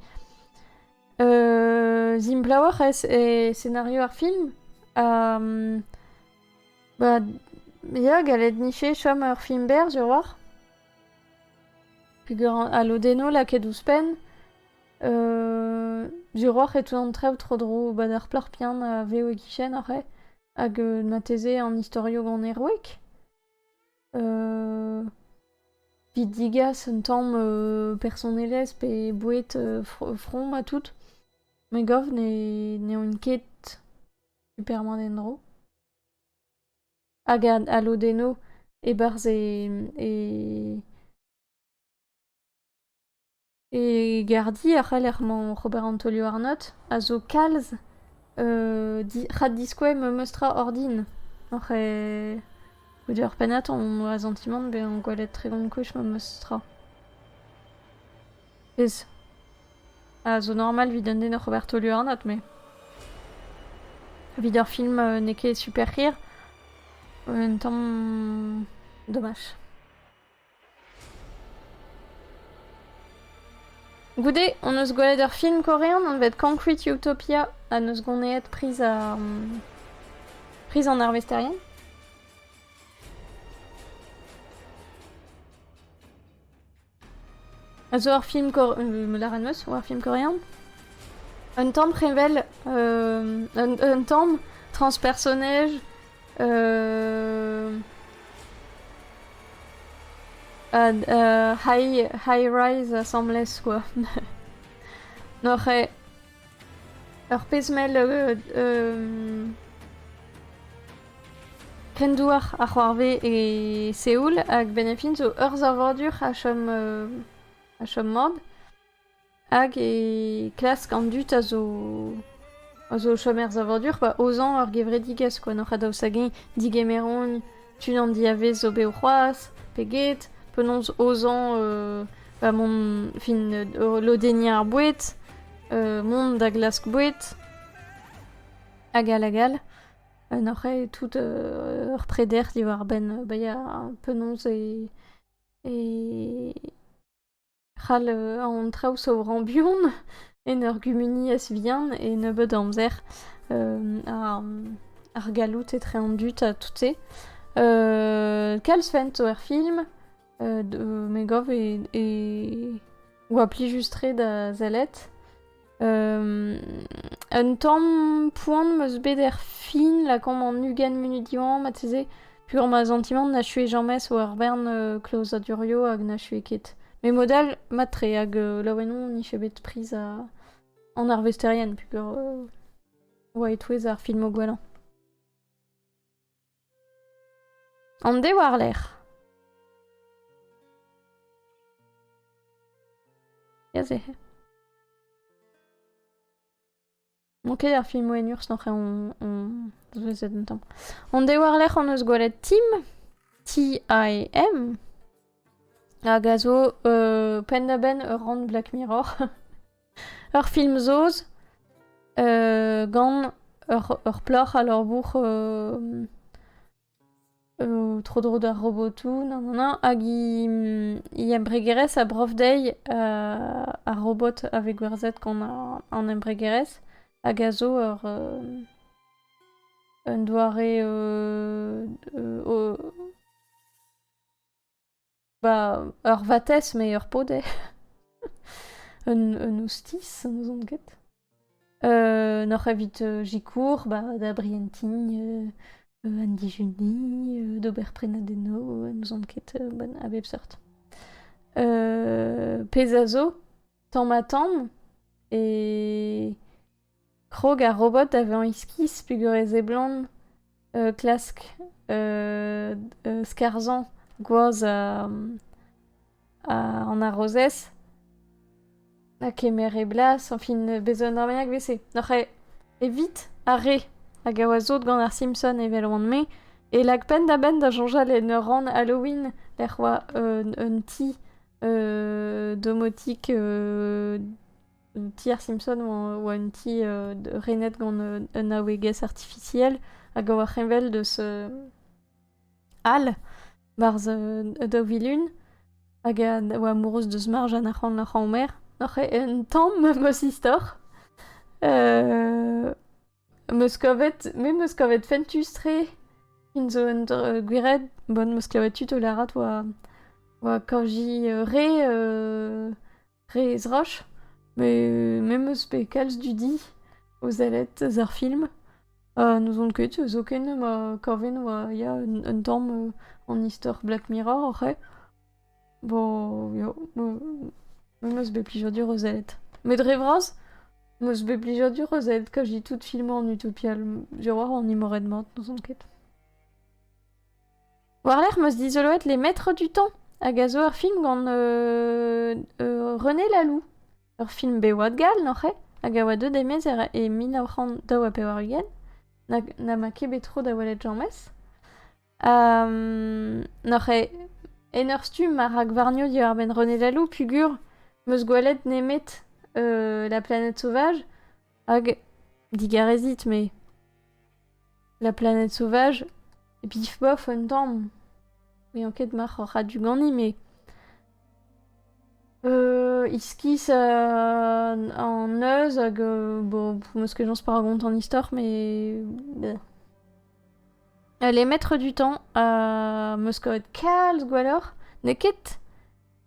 euh, simploc'h eo e scenario ar film. Um, ba, ya, gallet nife chom ur film berr, sur war. Peger a lodenno lakaet ouzhpenn. Euh, Duroc'h e teuan trev tro-dro 'ba ar plac'h pian a vev e-kichen oc'h hag euh, mateze an istorio gant heroek. Euh, Vit digas un tamm euh, personelezh pe boued euh, fr- from ha tout. Me gav ne n'eont ket superman en-dro. Hag a- alodenno e-barzh e, e E gardi a c'haller mañ ober an taolioù-arnod a zo kalz rak-diskouez memes tra ordin. Oc'h e- o deus ur pennad on oa santimant bezañ gwelet tregont gwech memes tra. Ez. A zo normal evit un den oc'h ober taolioù-arnod me. Evit ur film n'eo ket super hir, un tamm dommage. Goude hon eus gwelet ur film korean anvet Concrete Utopia ha n'eus goneet priz ar priz an arvesterien. A zo ur film korean, lâret meus, ur film korean. Un tamm prevel, euh, un, un tamm transpersonnage High rise asambles kwa. N'oc'h ket ur pezh mell kendouar a c'hoarve e Seoul hag benefit zo ur savadur a chom mab. Hag e klask an dud a zo a zo o chom er savadur pa aozañ ur gevredigezh kwa n'oc'h a daoust hag-eñ digemer on tu an diavez zo bev c'hoazh pe get penaos aozañ va mont fin lodenniñ ar boued mont da glask boued hag all hag all n'oc'h eo tout ur preder diwar-benn bezañ penaos e e c'hall an traoù zo ran buan en ur gumuniezh vihan e nebeud amzer ar galloud etre an dud ha tout-se. kalz fent zo er film, me gav e oa plijus-tre da sellet. Un tamm poan m'eus bet er fin, lakaomp an ugent munut diwañ, marteze, pugur ma santimant n'achui james war bern euh, klozadurio hag n'achui ket. Mais mod all, matre, hag euh, laouen on n'iffe bet priz a... an arvesterien, pugur euh, oa e-touez ar filmoù gwellañ. An dez war-lerc'h. Aze. Bon, ok, ar film Wenurs, n'en on, on zouezet un tamm. On dez war-lerc'h on eus gwelet Tim, T-I-M, hag a zo euh, penn-da-benn ur rann Black Mirror. Ur film saoz gant ur plac'h a labour tro-dro d'ar robotoù hag he embregerezh a brof dezhi ar robot a vez gwerzhet gant an embregerezh hag a zo un doare Ba, ur vatezh met ur podez. un, un ostiz, n'ouzon ket. Euh, N'oc'h evit euh, sikour ba, da brientiñ euh, euh, an dijuni, euh, d'ober prenadennoù, euh, n'ouzon ket, euh, ben, a bep seurt. Euh, pezh a zo, tamm ha tamm, e krog ar robot da vezañ iskis pegwir e seblant klask skarzhañ gwazh an arozez ha kemer e blas añfin bez' un armagnac evese oc'h evit ar re hag a oa sot gant ar simpson evel oan-me e lak penn-da-benn da soñjal en ur rann halloween lec'h oa un ti domotik un ti ar Simpson oa un ti euh, renet gant euh, un aouegez artificiel hag a oa c'heñvel deus euh, Al barzh e daou vilun hag a oa amourouz deus marj an arc'hant ar c'haomer oc'h un tamm meus istor meus kavet me meus kavet fentus-tre fin zo un gwired bon meus kavet tud o larat oa oa kaji re Re ezrach, met me 'm eus bet kalz dudi o sellet eus ar film. n'ouzon ket, zoken ma kaven oa ya un tamm an istor Black Mirror oc'h-he. Bo ya, me 'm eus bet plijadur o sellet. Met dre vras, 'm eus bet plijadur o sellet kaji tout filmoù an Utopial. Diorroañ an imoret mat, n'ouzon ket. War-lerc'h 'm eus dizoloet Les Maîtres du Temps, hag a zo ur film gant René Lalou. Ur film bev-oad gall oc'h eo, hag a oa deuet e-maez e mil nav c'hant daou ha pevar-ugent, na ma ket bet tro da welet james. N'oc'h eo en ur stumm ma rak warnio diwar-benn René Lalou, pugur, 'm eus gwelet nemet La planète sauvage, Hag digarezit, me. La planète sauvage, e pif bof un tamm. N'eo ket mac'h oc'h a-du ganin, me. Euh, iskis euh, an eus hag euh, bon, meus ket jañs pa rakont an istor, mais... bleh. Allez, maître du temps, ha meus kavet kalz gwelloc'h. N'eo ket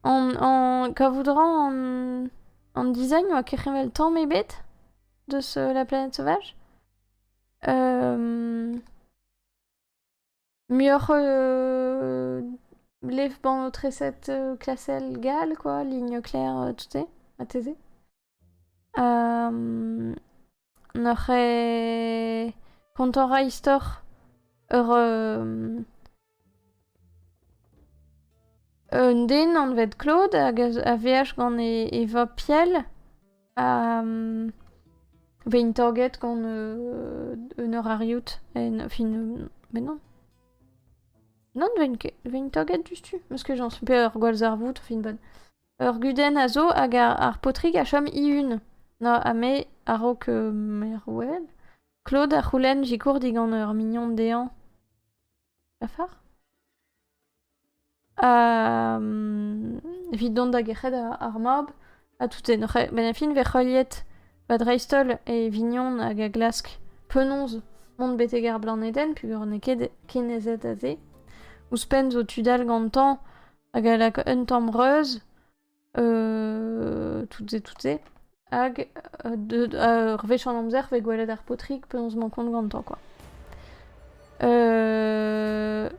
An, an, kavout ra an, an design oa kec'hevel tamm ebet deus euh, la planète sauvage. Euh, muioc'h euh, lef-banotresset euh, classel gall, quoi, ligne claire, euh, tout est, à taiser. N'oc'h ket kontañ a ra istor ur un den anvet Claude hag a veaj gant e vab Piel a vez taget gant un eurariout en fin met non. Non, 'vent ket. 'vent taget diouzhtu. 'meus ket chañs. Pe ur gwallzarvoud, fin 'bat. Ur gudenn a zo hag ar paotrig a chom e-hun. Na, ha me, a-raok Merwel, Claude a c'houlenn sikour digant ur mignon dezhañ. Lafar? Ha... evit dont da gerc'het ar mab ha tout-se. Ben a fin 'vez heuliet va dreist-holl e vignon hag a glask penaos mont betek ar Blanedenn peogwir n'eo ket kenezet aze. Ouzhpenn zo tud all gantañ hag a lak un tamm reuz, euh, tout-se, tout-se. Hag ur wech an amzer, vez gwelet ar paotrig penaos mañ kont gantañ, quoi. Euh...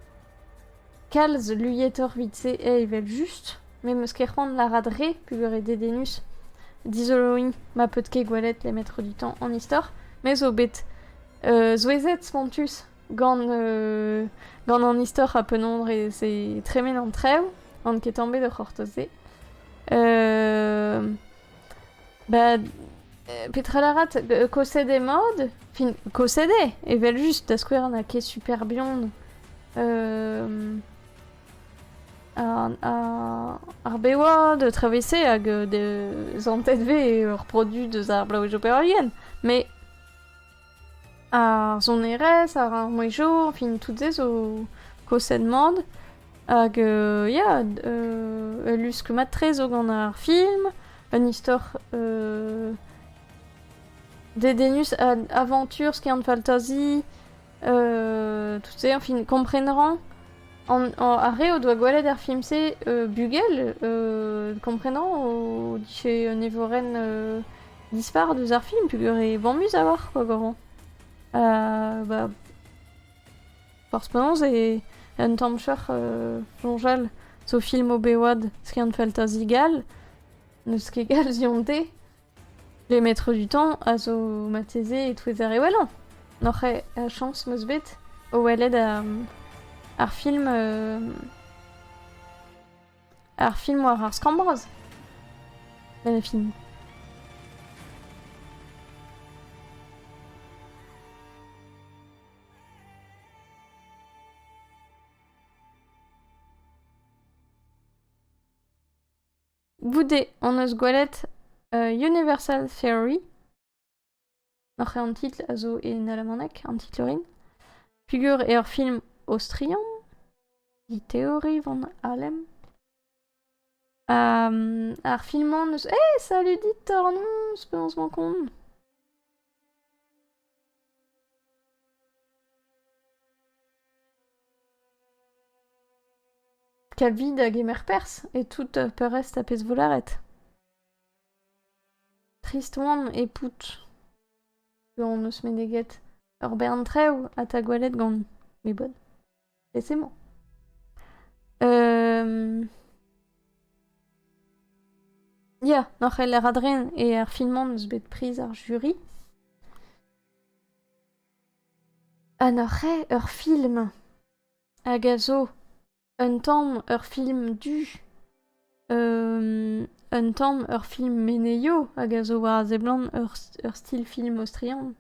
Kalz luietoc'h vit-se evel just, me meus ket c'hoant lârat re, peogwir eo dedennus. Dizoloiñ ma paotr ket gwelet les maîtres du temps en istor, me zo bet euh, souezhet spontus Gant, euh, gant an istor ha penaos dre se tremen an traoù, on ket ket bet o c'hortoz-se. Euh, ba, petra lârat, euh, kosed emaod? Fin, kosed eo, evel-just, da skouer n'a ket super bihan euh, ar bewad, traversé hag euh, des antet ve ur produt deus ar blaouej opererien, mais Ar sonerezh, ar mouezhioù, fin tout-se zo koset mat. Hag euh, ya, ul lusk mat-tre zo gant ar film, un istor euh, dedennus, aventure, skiant-faltazi, euh, tout-se, enfin, komprenañ. ar re o doa gwelet ar film-se, bugel, komprenañ o dije un evorenn dispar deus ar film peogwir e bamus a-walc'h quoi goro. Euh, bah, forzh penaos e un tamm cheuc'h euh, soñjal zo film Obewad skiant fantasy gall n'eus ket gall zionte les maîtres du temps a zo mateze e-touezer e wellañ n'oc'h eo a chañs meus bet o welet ar, ar film euh, Ar film war ar skambroz ? Met ne film. Goude hon eus gwelet Universal Theory. Hor c'hêr-an-titl a zo en alamaneg, an titl orin. Pugur eo ur film aostrian, he teori van Alem. Ha mm, ar film-mañ n'eus... Eh, salut dit Ornons, penaos 'mañ kont? Kavid a gemer perzh e tout peurrest a pezh volaret. Trist oan, epout. Zo hon-eus meneget ur bern traoù ha 'ta gwelet gant mes bonnes. Lese-mañ. Ya, n'or c'heller adren e ar film-mañ n'eus bet priz ar jury. Ha n'or c'hrae ur film hag a zo Un tamm ur film du, un tamm ur film menezio hag a zo war a seblant ur ur stil film aostrian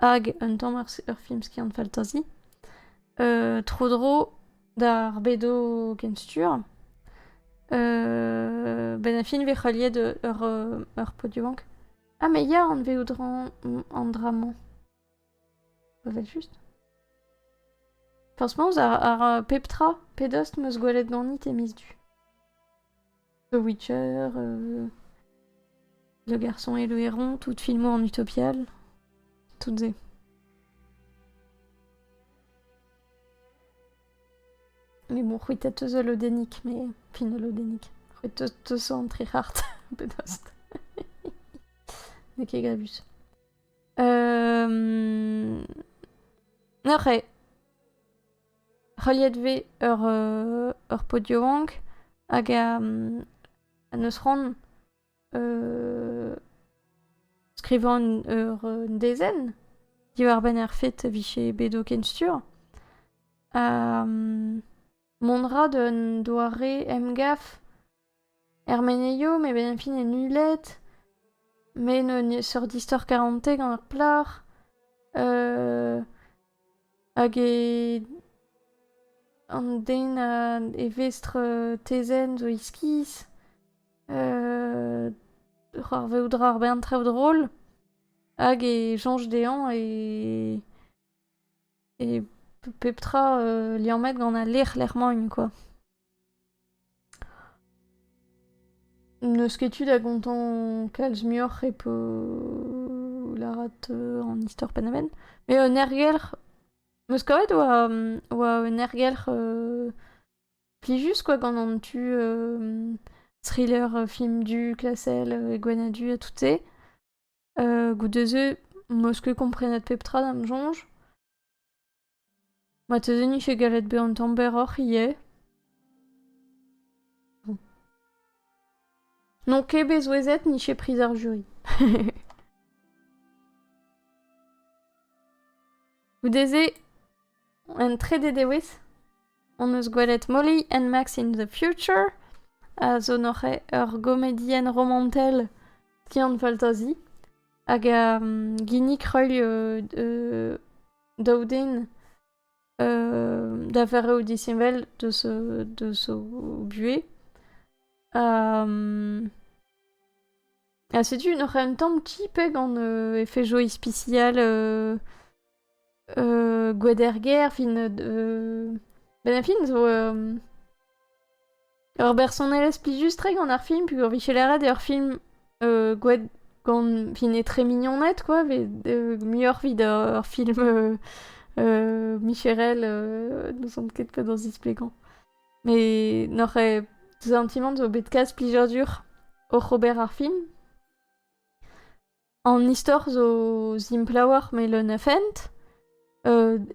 hag un tamm ur film skiant fantasy. tro-dro d'ar bedo kenstur. ben a fin 'vez heuliet ur ur podiumank. Ha me ya anveout an dra-mañ. Evel-just. Franchement, ar, pep tra, pedost meus gwelet ganit e miz du. The Witcher, euh, Le Garçon et le Héron, toutes filmos en utopial, toutes et. Mais bon, c'hwitet eus lodennik, mais fin lodennik. C'hwitet eus an très hart, pedost. N'eo ket grevus. Neuze, heuliet vez ur ur pod yaouank hag n'eus c'hoant skrivañ ur un dezenn diwar-benn ar fed e vije bet o kenstuur. Mont 'ra d'un doare emgav Er menezioù m'e benvfin en Uled, me n'eus neseurt istor karante gant ar plac'h. hag e an den a e vestr tezenn zo iskis. c'hoarvezout a ra ar bern traoù drol. Hag e soñj dezhañ e e pep tra liammet gant al lec'h lec'h-mañ quoi. N'eus ket tu da gontañ kalz muioc'h repo lârat an istor Panamen. Mais un ergelc'h... 'Meus kavet oa, oa un ergelc'h plijus quoi gant an tu thriller film du klasel e Gwenadu ha tout-se. goude-se meus ket komprenet pep tra da'm soñj. Marteze n'iffe gallet bezañ un tamm berroc'h ivez. N'on ket bet souezhet n'iffe priz ar jury. Goude-se Un trede dewezh hon eus gwelet Molly and Max in the Future a zo neuze ur gomedienn romantel skiant-faltazi hag a ginnig reuil euh, daou den da vezañ o disheñvel deus deus o buhez. Ha setu neuze un tamm ti pe gant efejoù ispisial Euh, Gwaederger, fin... euh, Ben Affleck zo... euh, Ur bersonelezh plijus-tre gant ar film, pugur vicher eret eo ar film euh, gwed... gant... fin etre mignoned, quoi, vez euh, muioc'h evit ur film euh, euh, Micherel, euh, n'ouzon ket pa da zisplegañ. Mais n'oc'h ket sentimant zo bet kalz plijadur oc'h ober ar film. An istor zo simplewoc'h melen a fent.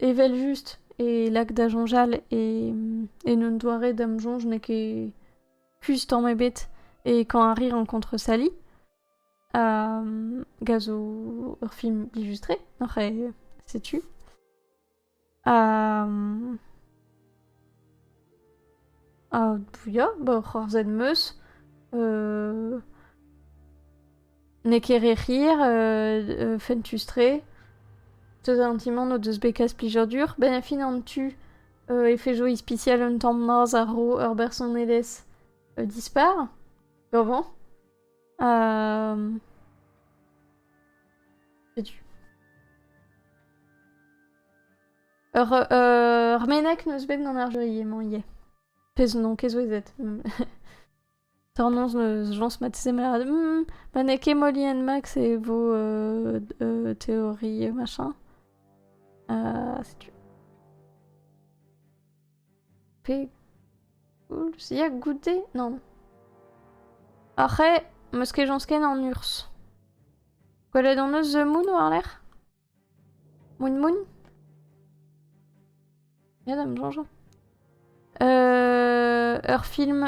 evel-just e lak da soñjal e en un doare da'm soñj n'eo ket kuzh tamm ebet e Kañ a ri renkontr Sally. Hag a zo ur film blijus-tre, oc'h e setu. Ar vuiañ ba ur c'hoarzhed 'm eus n'eo ket re hir fentus-tre. Deus an ti-mañ n'o deus bet kalz plijadur. Benn ar fin an tu e fe jo ispisial un tamm maz a-raok ur bersonelezh dispar. Gaovañ. Setu. Ur, ur menag n'eus bet gant ar jury emañ ivez. Pezh n'on ket souezhet. Tornoz n'eus jañs ma teze lâret hmm, ma n'eo ket Molly and Max e vo euh, euh, théorie machin. Uh, setu. Pe koulz ya goude nann. Après 'm eus kejañs ken an urzh. Gwelet hon eus The Moon war-lerc'h? Moon Moon? Ya da 'm soñjañ. ur film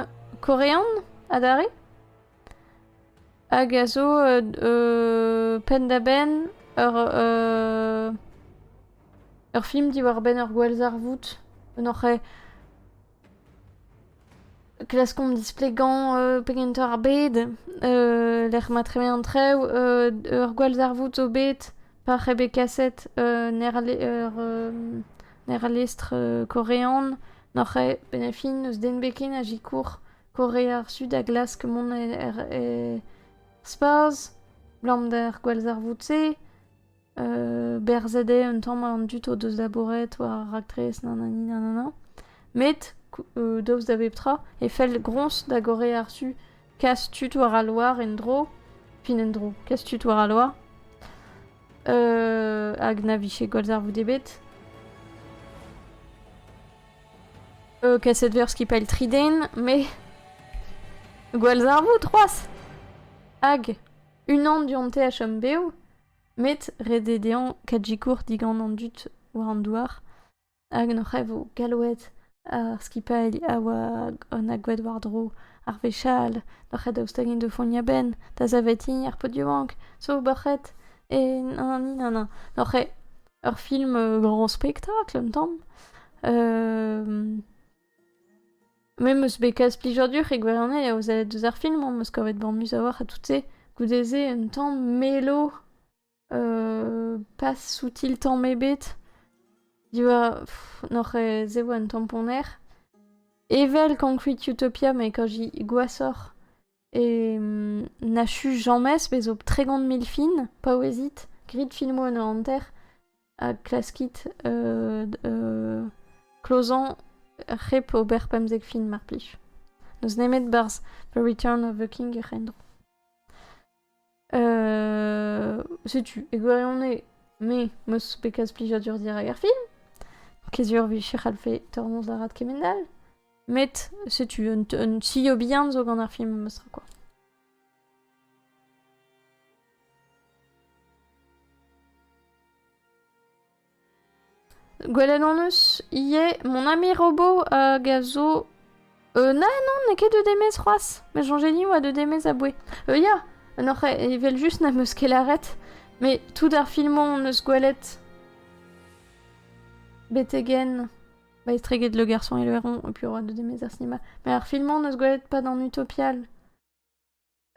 korean adarre hag a zo pen-da-benn ur Ur film diwar-benn ur gwallzarvoud, un oc'h eo klaskomp displegañ pegentr ar bed, lec'h ma tremen an traoù, ur gwallzarvoud zo bet pa c'he bet kaset un aerlestr korean, n'oc'h eo penn ha fin n'eus den bet ken a sikour Korea ar Su da glask mont er spazh 'blam d'ar gwallzarvoud-se. berzet eo un tamm an dud o deus labouret war ar raktres nanani nanana. Met, daoust da bep tra, e fell groñs da gorre ar su kas tud war al loar en-dro, fin en-dro, kas tud war al loar, hag na vije gwallzarvoud ebet. kaset ver skipailh tri den, mais gwallzarvoud c'hoazh! Hag unan du-hont THMBO, met ret eo dezhañ kajikour digant an dud war an douar hag an c'hrev eo gallouet ar skipailh a oa an agoued war-dro ar wech all d'ar c'hed daoust int o fougnañ a-benn da savetiñ ar podioù-bank zo ober ret e nann-nann d'ar c'hre ur film graoñ spektakl un tamm Me 'm eus bet kaset plijadur e gwirionez aozaet deus ar film am eus kavet bamus a-walc'h ha tout-se. Goude-se un tamm melo, pas soutil tamm ebet. Diwar... n'oc'h se vo un tamm ponner. Evel Concrete Utopia, met quand j'y goassoc'h. E n'achu james bez zo tregont mil fin paouezit grit filmoù en o hanter ha klaskit euh, euh, klozañ hep ober pemzek fin mar plij. N'eus nemet barzh The Return of the King hec'h endro. Euh, setu, e gwirionez, me, meus bekaz plijadur dirak ar film, kezur vicher alfe tornoz arat kemendal, met setu un, un sio bien zo gant ar film meus quoi. Gwelet hon eus ivez mon ami Robo hag a zo euh, na non n'eo ket deus Demez c'hoazh met soñjet din 'oa deus Demez aboue euh, ya n'oc'h evel-just n'am eus ket lâret met tout ar filmoù hon eus gwelet betegen ba estreget Le Garçon et le Héron et puis Roi de Demez ar cinéma mais ar filmoù hon eus gwelet pas dans Utopial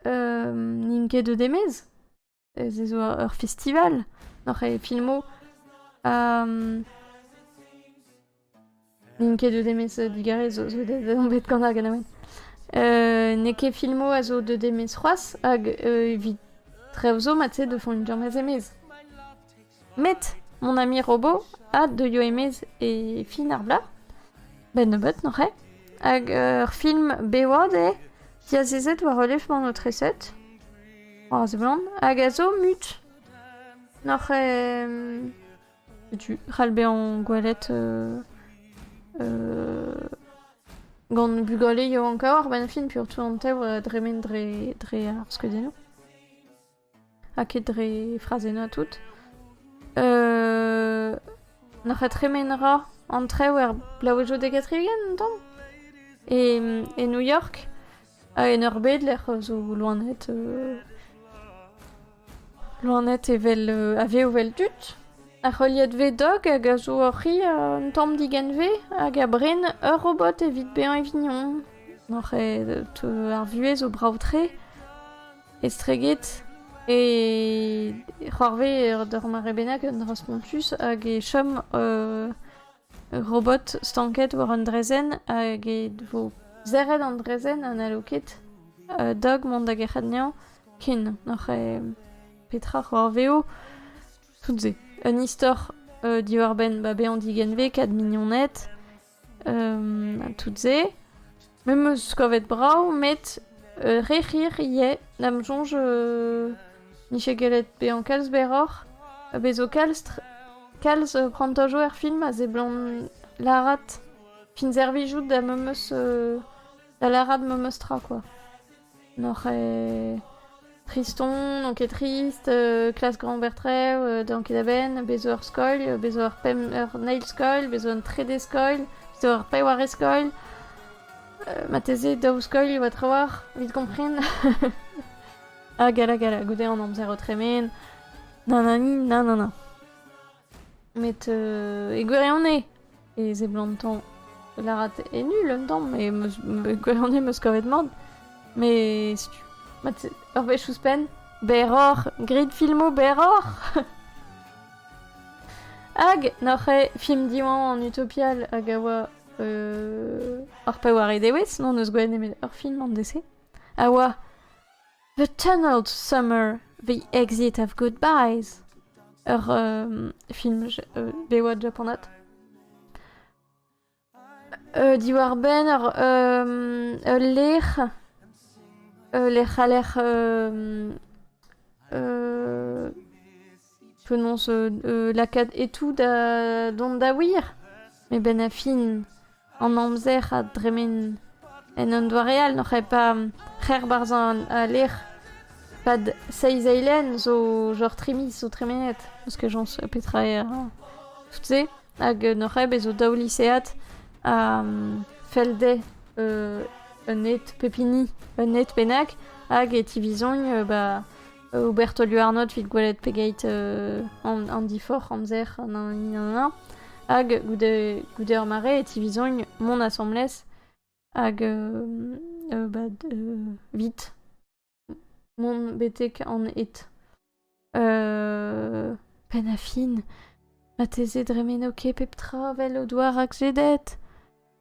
n'int ket deus Demez ez eus ur festival oc'h e filmoù. N'int ket deuet e-maez digarez zo on bet gant ar ganaouenn. N'eo ket filmoù a zo deuet e-maez c'hoazh hag evit traoù zo mat-se 'deus foñt james e-maez. Met mon ami Robo a deuio e-maez e fin ar bloaz, 'benn nebeut noc'h eo, hag ur film bevaat eo diazezet war relevmañ an aotreset, ar seblant, hag a zo mut. Noc'h eo setu c'hall bezañ gwelet gant bugale yaouank-kaer ar bennfilm, piv 'teu an tev dremen dre dre ar skeudennoù. Ha ket dre frazennañ tout. Euh... N'oc'h tremen ra an trev er blavezhioù dek ha tri-ugent un tamm e, e New York ha en ur bed lec'h zo loened euh, loened evel euh, a vev evel tud ar heuliad V-Dog hag a zo oc'hi un tamm digenve hag a bren ur robot evit bezañ e vignon. Ar vuhez zo brav-tre estreget e c'hoarvez d'ur mare bennak un dra spontus hag e chom ur robot stanket war un draezhenn hag e vo serret an draezhenn ha n'hallo ket Doug mont da gerc'hat anezhañ ken oc'h eo petra c'hoarvez eo tout-se un istor diwar-benn ba bezañ digenvez kat mignoned tout-se. Me 'meus kavet brav, met re hir ivez. Da'm soñj n'ije gellet bezañ kalz berroc'h. Bez' zo kalz, kalz prantajoù er film a seblant lârat. Fin servijout da ma 'meus da lârat ma 'meus tra, quoi. N'oc'h ket triston, n'on ket trist, klas Grand-Bert Trev, dean ket a-benn, bez' zo ur skol, bez' zo ur pemp ur eil skol, bez' zo un trede skol, bez' zo ur pewar eskol. marteze daou skol e oa trawalc'h, evit kompren. ha gala gala, goude an amzer o tremen. Na na ni, na na na. Met euh, e gwirionez, e seblantañ lârat e nul un tamm, mais meus- e gwirionez 'meus kavet mat. Mais setu, ma te- ur wech ouzhpenn, berroc'h, graet filmoù berroc'h! Hag n'oc'h ket film Diwan an Utopial hag a oa euh, ar paour e dewez, n'hon eus gwelet nemet ur film an DC, a oa The Tunneled Summer, The Exit of Goodbyes, ur euh, film euh, bevet japonat. Euh, diwar-benn ur euh, ul lec'h, ul lec'h a lec'h euh, euh, Penaos euh, lakaat e-tout da dont da wir eben a fin an amzer a dremen en un doare all n'oc'h ket pa c'her barzh al lec'h pad seizh eilenn zo genre trimis zo tremenet parce que j'en sais petra eo tout se hag n'oc'h ket bez zo daou lisead a fell dezhe un ed pep hini un ed bennak hag e tivizogn ba Oberto Luarnot evit gwelet pegeit an diforc'h amzer hag goude goude ur mare e tivizogn mont asambles hag ba evit mont betek an ed. Penn ha fin, marteze dremeno ket pep tra 'vel o doa rakzedet.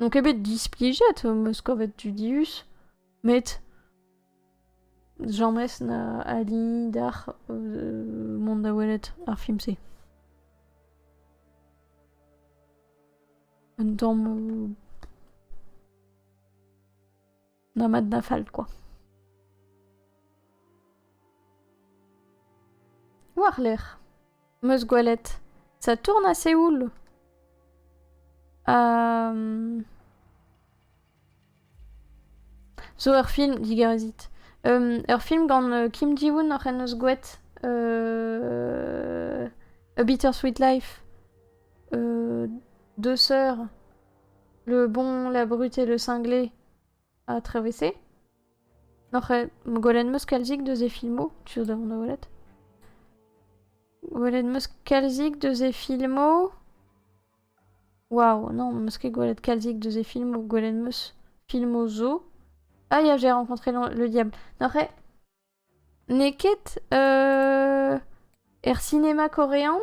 N'on ket bet displijet, am eus kavet dudius, met james na ali d'ac'h euh, mont da welet ar film-se. Un tamm euh, Na mat na fall kwa. War-lerc'h, 'm eus gwelet Saturn ha Seoul. Um... Zo ur film, digarezit. Um, ur film gant uh, Kim Ji-woon oc'h en eus gwelet uh, A Bittersweet Life. Uh, deux sœurs Le bon, la brute et le cinglé a traversé. Noc'h eo gwelet 'm eus kalzik deus e filmoù, tu zo da welet. Gwelet 'm eus kalzik deus e filmoù. Waouh, non, 'm eus ket gwelet kalzik deus e filmoù. Gwelet 'm eus filmoù zo. Ah ya, j'ai rencontré le diable. Noc'h eo N'eo ket er sinema korean.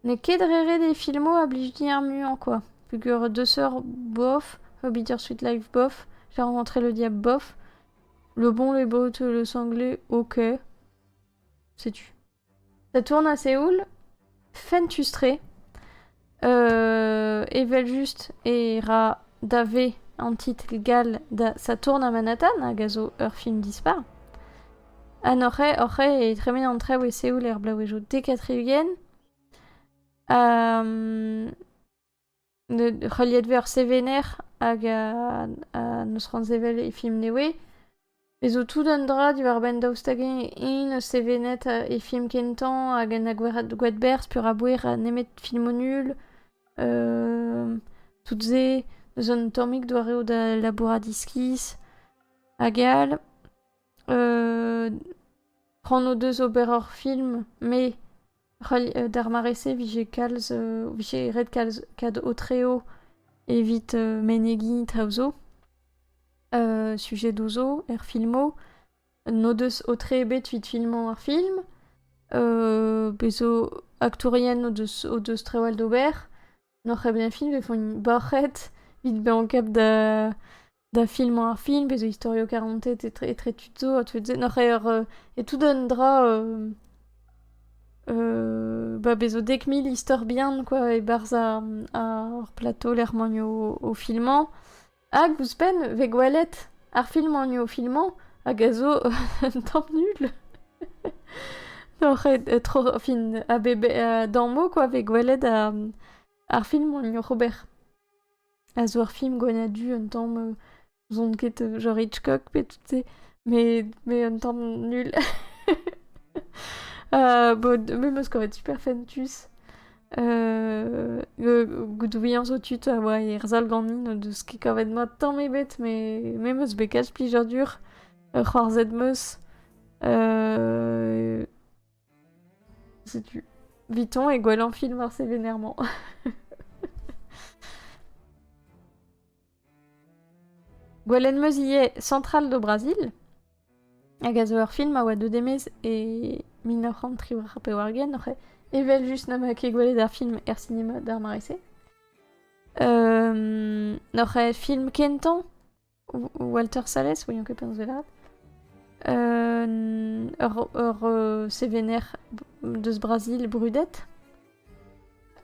N'eo ket re ret e filmoù a blij din ar muiañ kwa. Peogwir Deux sœurs bof, How I Beat Your Sweet Life bof, j'ai rencontré le diable bof. Le bon, le beau, le sanglé, ok. C'est tu. e tournas e houl fentus-tre, evel-just e ra dave an titl gall da Saturn ha Manhattan, hag a zo ur film dispar. Ha n'oc'h oc'h e tremen an traoù e Seoul er bloavezhioù dek ha tri-ugent. Heuliet vez ur sevener hag n'eus c'hoant sevel e film nevez. E zo tout un dra diwar-benn daoust hag-eñ eñ 'neus sevenet e film kentañ hag en a gwad berzh peurabouer nemet filmoù nul. tout se, n'eus un tammig doareoù da labourat iskis hag all. c'hoant o deus ober ur film met D'ar mare-se 'vije kalz vije ret kalz kad aotreo evit menegiñ traoù zo, sujedoù zo er filmoù. N'o deus aotre ebet evit filmañ ar film. Bez' zo aktourien o deus o deus trawal d'ober. N'o c'hell bezañ film e font borc'hed evit bezañ kap da da filmañ ar film pe zo istorioù karantet etre, etre tud zo ha tud se. Noc'h eo euh, e tout un dra euh, euh, ba bezo dek mil istor bihan quoi e-barzh ar, ar plateau lec'hmanioù o, filmañ. Hag ouzhpenn, ve gwelet ar filmanioù o filmañ hag a zo un tamm nul. Noc'h eo tro, fin, a, be, a, dañ mot quoi, ve gwelet ar, ar filmanioù oc'h ober. a zo ur film gwenadur du un tamm euh, n'ouzon ket genre Hitchcock pe tout se mais mais un tamm nul euh, bon même ce aurait super fentus euh, goudouilhañ zo tud a oa erzhal ganin o deus ket kavet mat tamm ebet mais même eus bet kalz plijadur ur c'hoarzhet 'm eus euh, Setu. Viton et Gwelan filmar sévénairement. Gwelen meus ivez Central do Brasil, hag a zo ur film a oa deuet e-maez e mil nav c'hant tri war pevar-ugent, oc'h evel just na ma ket gwelet ar film er sinema d'ar mare-se. Um, N'oc'h film kentañ Walter Salles, voyons que pense velat. Euh, ur, ur euh, sévénaire deus Brasil brudet.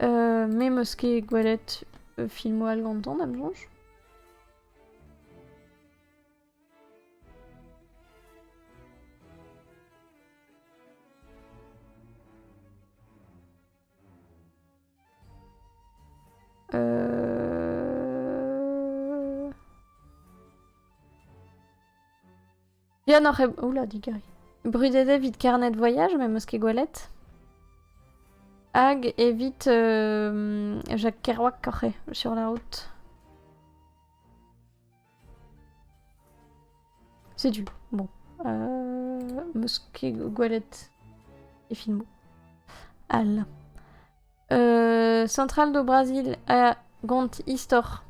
Euh, me meus ket gwelet euh, filmoù all gantañ, da'm soñj. Bien oc'h... Oula, digeri. Brudet evit carnet voyage, mais mosquée Goualette. Hag evit euh, Jacques Kerouac Corre, sur la route. Setu, bon. Euh, meus ket gwelet e filmoù. Al. Euh, Central do Brasil a gont istor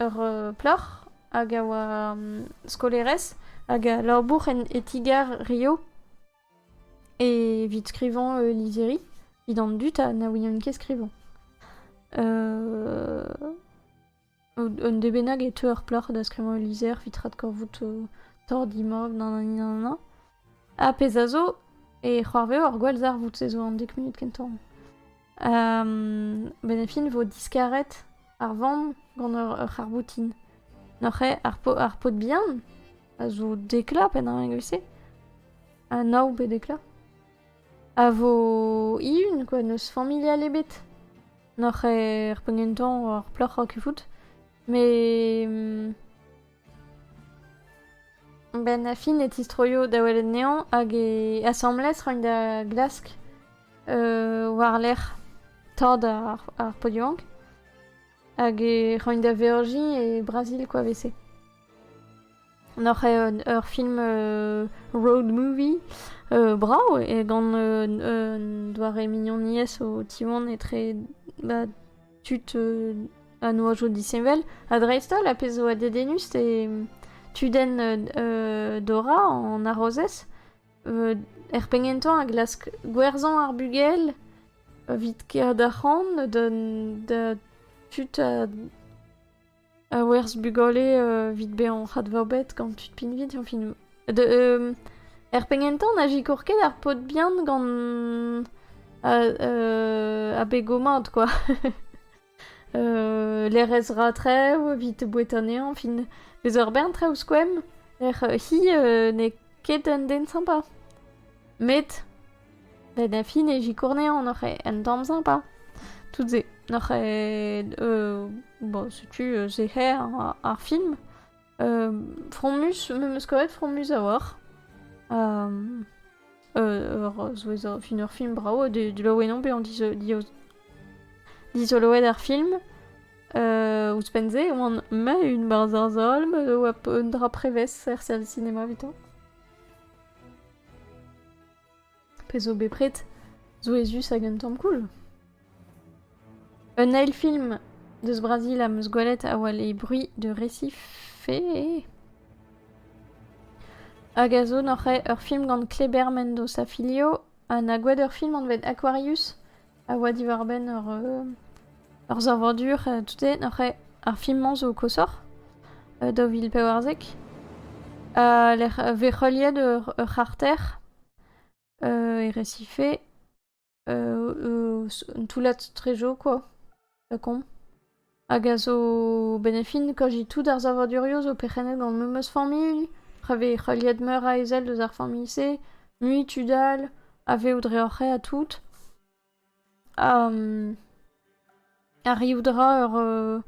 ur euh, ploc'h hag a oa um, skolerez hag a labour en etigar Rio evit skrivañ euh, lizeri evit an dud ha na ouient ket skrivañ. Euh, Un dez bennak e teu ar plac'h da skrivañ ul lizher evit adkavout torr-dimab nananina. Ha pezh a zo, e c'hoarveo ar gwallzarvoud-se zo an dek munut kentañ. Benefin vo diskaret ar vamm gant ur c'harbotin. N'oc'h eo ar paotr bihan a zo dekla penn-an evel-se. Ha nav bet dekla. A vo ihun, quoi, n'eus familial ebet. N'oc'h er penn gentañ war plac'h kevout, met... Ben ha Finn e tistroio da welet anezhañ hag e asambles roint da glask war-lerc'h tad ar Podiank hag e roint da Virgie e Brazil koa 'vese. N'oc'h ur film road movie brav e gant un doare mignoniezh o tiwan etre ba, tud a noajo disheñvel ha dreist-holl a pezh zo a dedennus e tudenn Dora an arozez er penn-kentañ a glask gwerzhañ ar bugel evit kaer d'ar c'han da tud a a werzh bugale evit bezañ advabet gant tud pinvidiañ filmoù. er penn-kentañ na sikour ket ar paotr bihan gant abego mat kwa. lerez ratrev evit boued anezhañ, fin eus ur bern traoù skoemp, ec'h hi n'eo ket un den sympa. Met Da da fin e zikorneañ oc'h un tamm sympa. Tout-se. Oc'h euh, bon, setu euh, sec'her ar film. Euh, fromus, me meus kavet fromus a-walc'h. ur souezh a fin ur film brav, delaouet on bezañ dizoloet ar film. Uh, Ouzhpenn-se, oan ma un barzh ar zolm, oa un dra prevez er service cinema evitañ. Pezh zo bepred souezhus hag un tamm cool. Un eil film deus Brazil am eus gwelet a oa Les Bruits de Recife. Hag a zo noc'he ur film gant Kleber Mendoza filio ha 'na gwad ur film anvet Aquarius a oa diwar-benn ur savadur tote nac'he ar film-mañ zo koshoc'h daou vil pevarzek ha lec'h vez heuliet ur c'harter e resife un toullad trejo quoi. Lakaomp. Hag a zo benefin kaji tout ar savadurioù zo perc'hennet gant memes familh, ra vez heuliet meur a ezel eus ar familh-se, mui tud all a vev dre hor c'hae ha tout. Ha arrivout a ra ur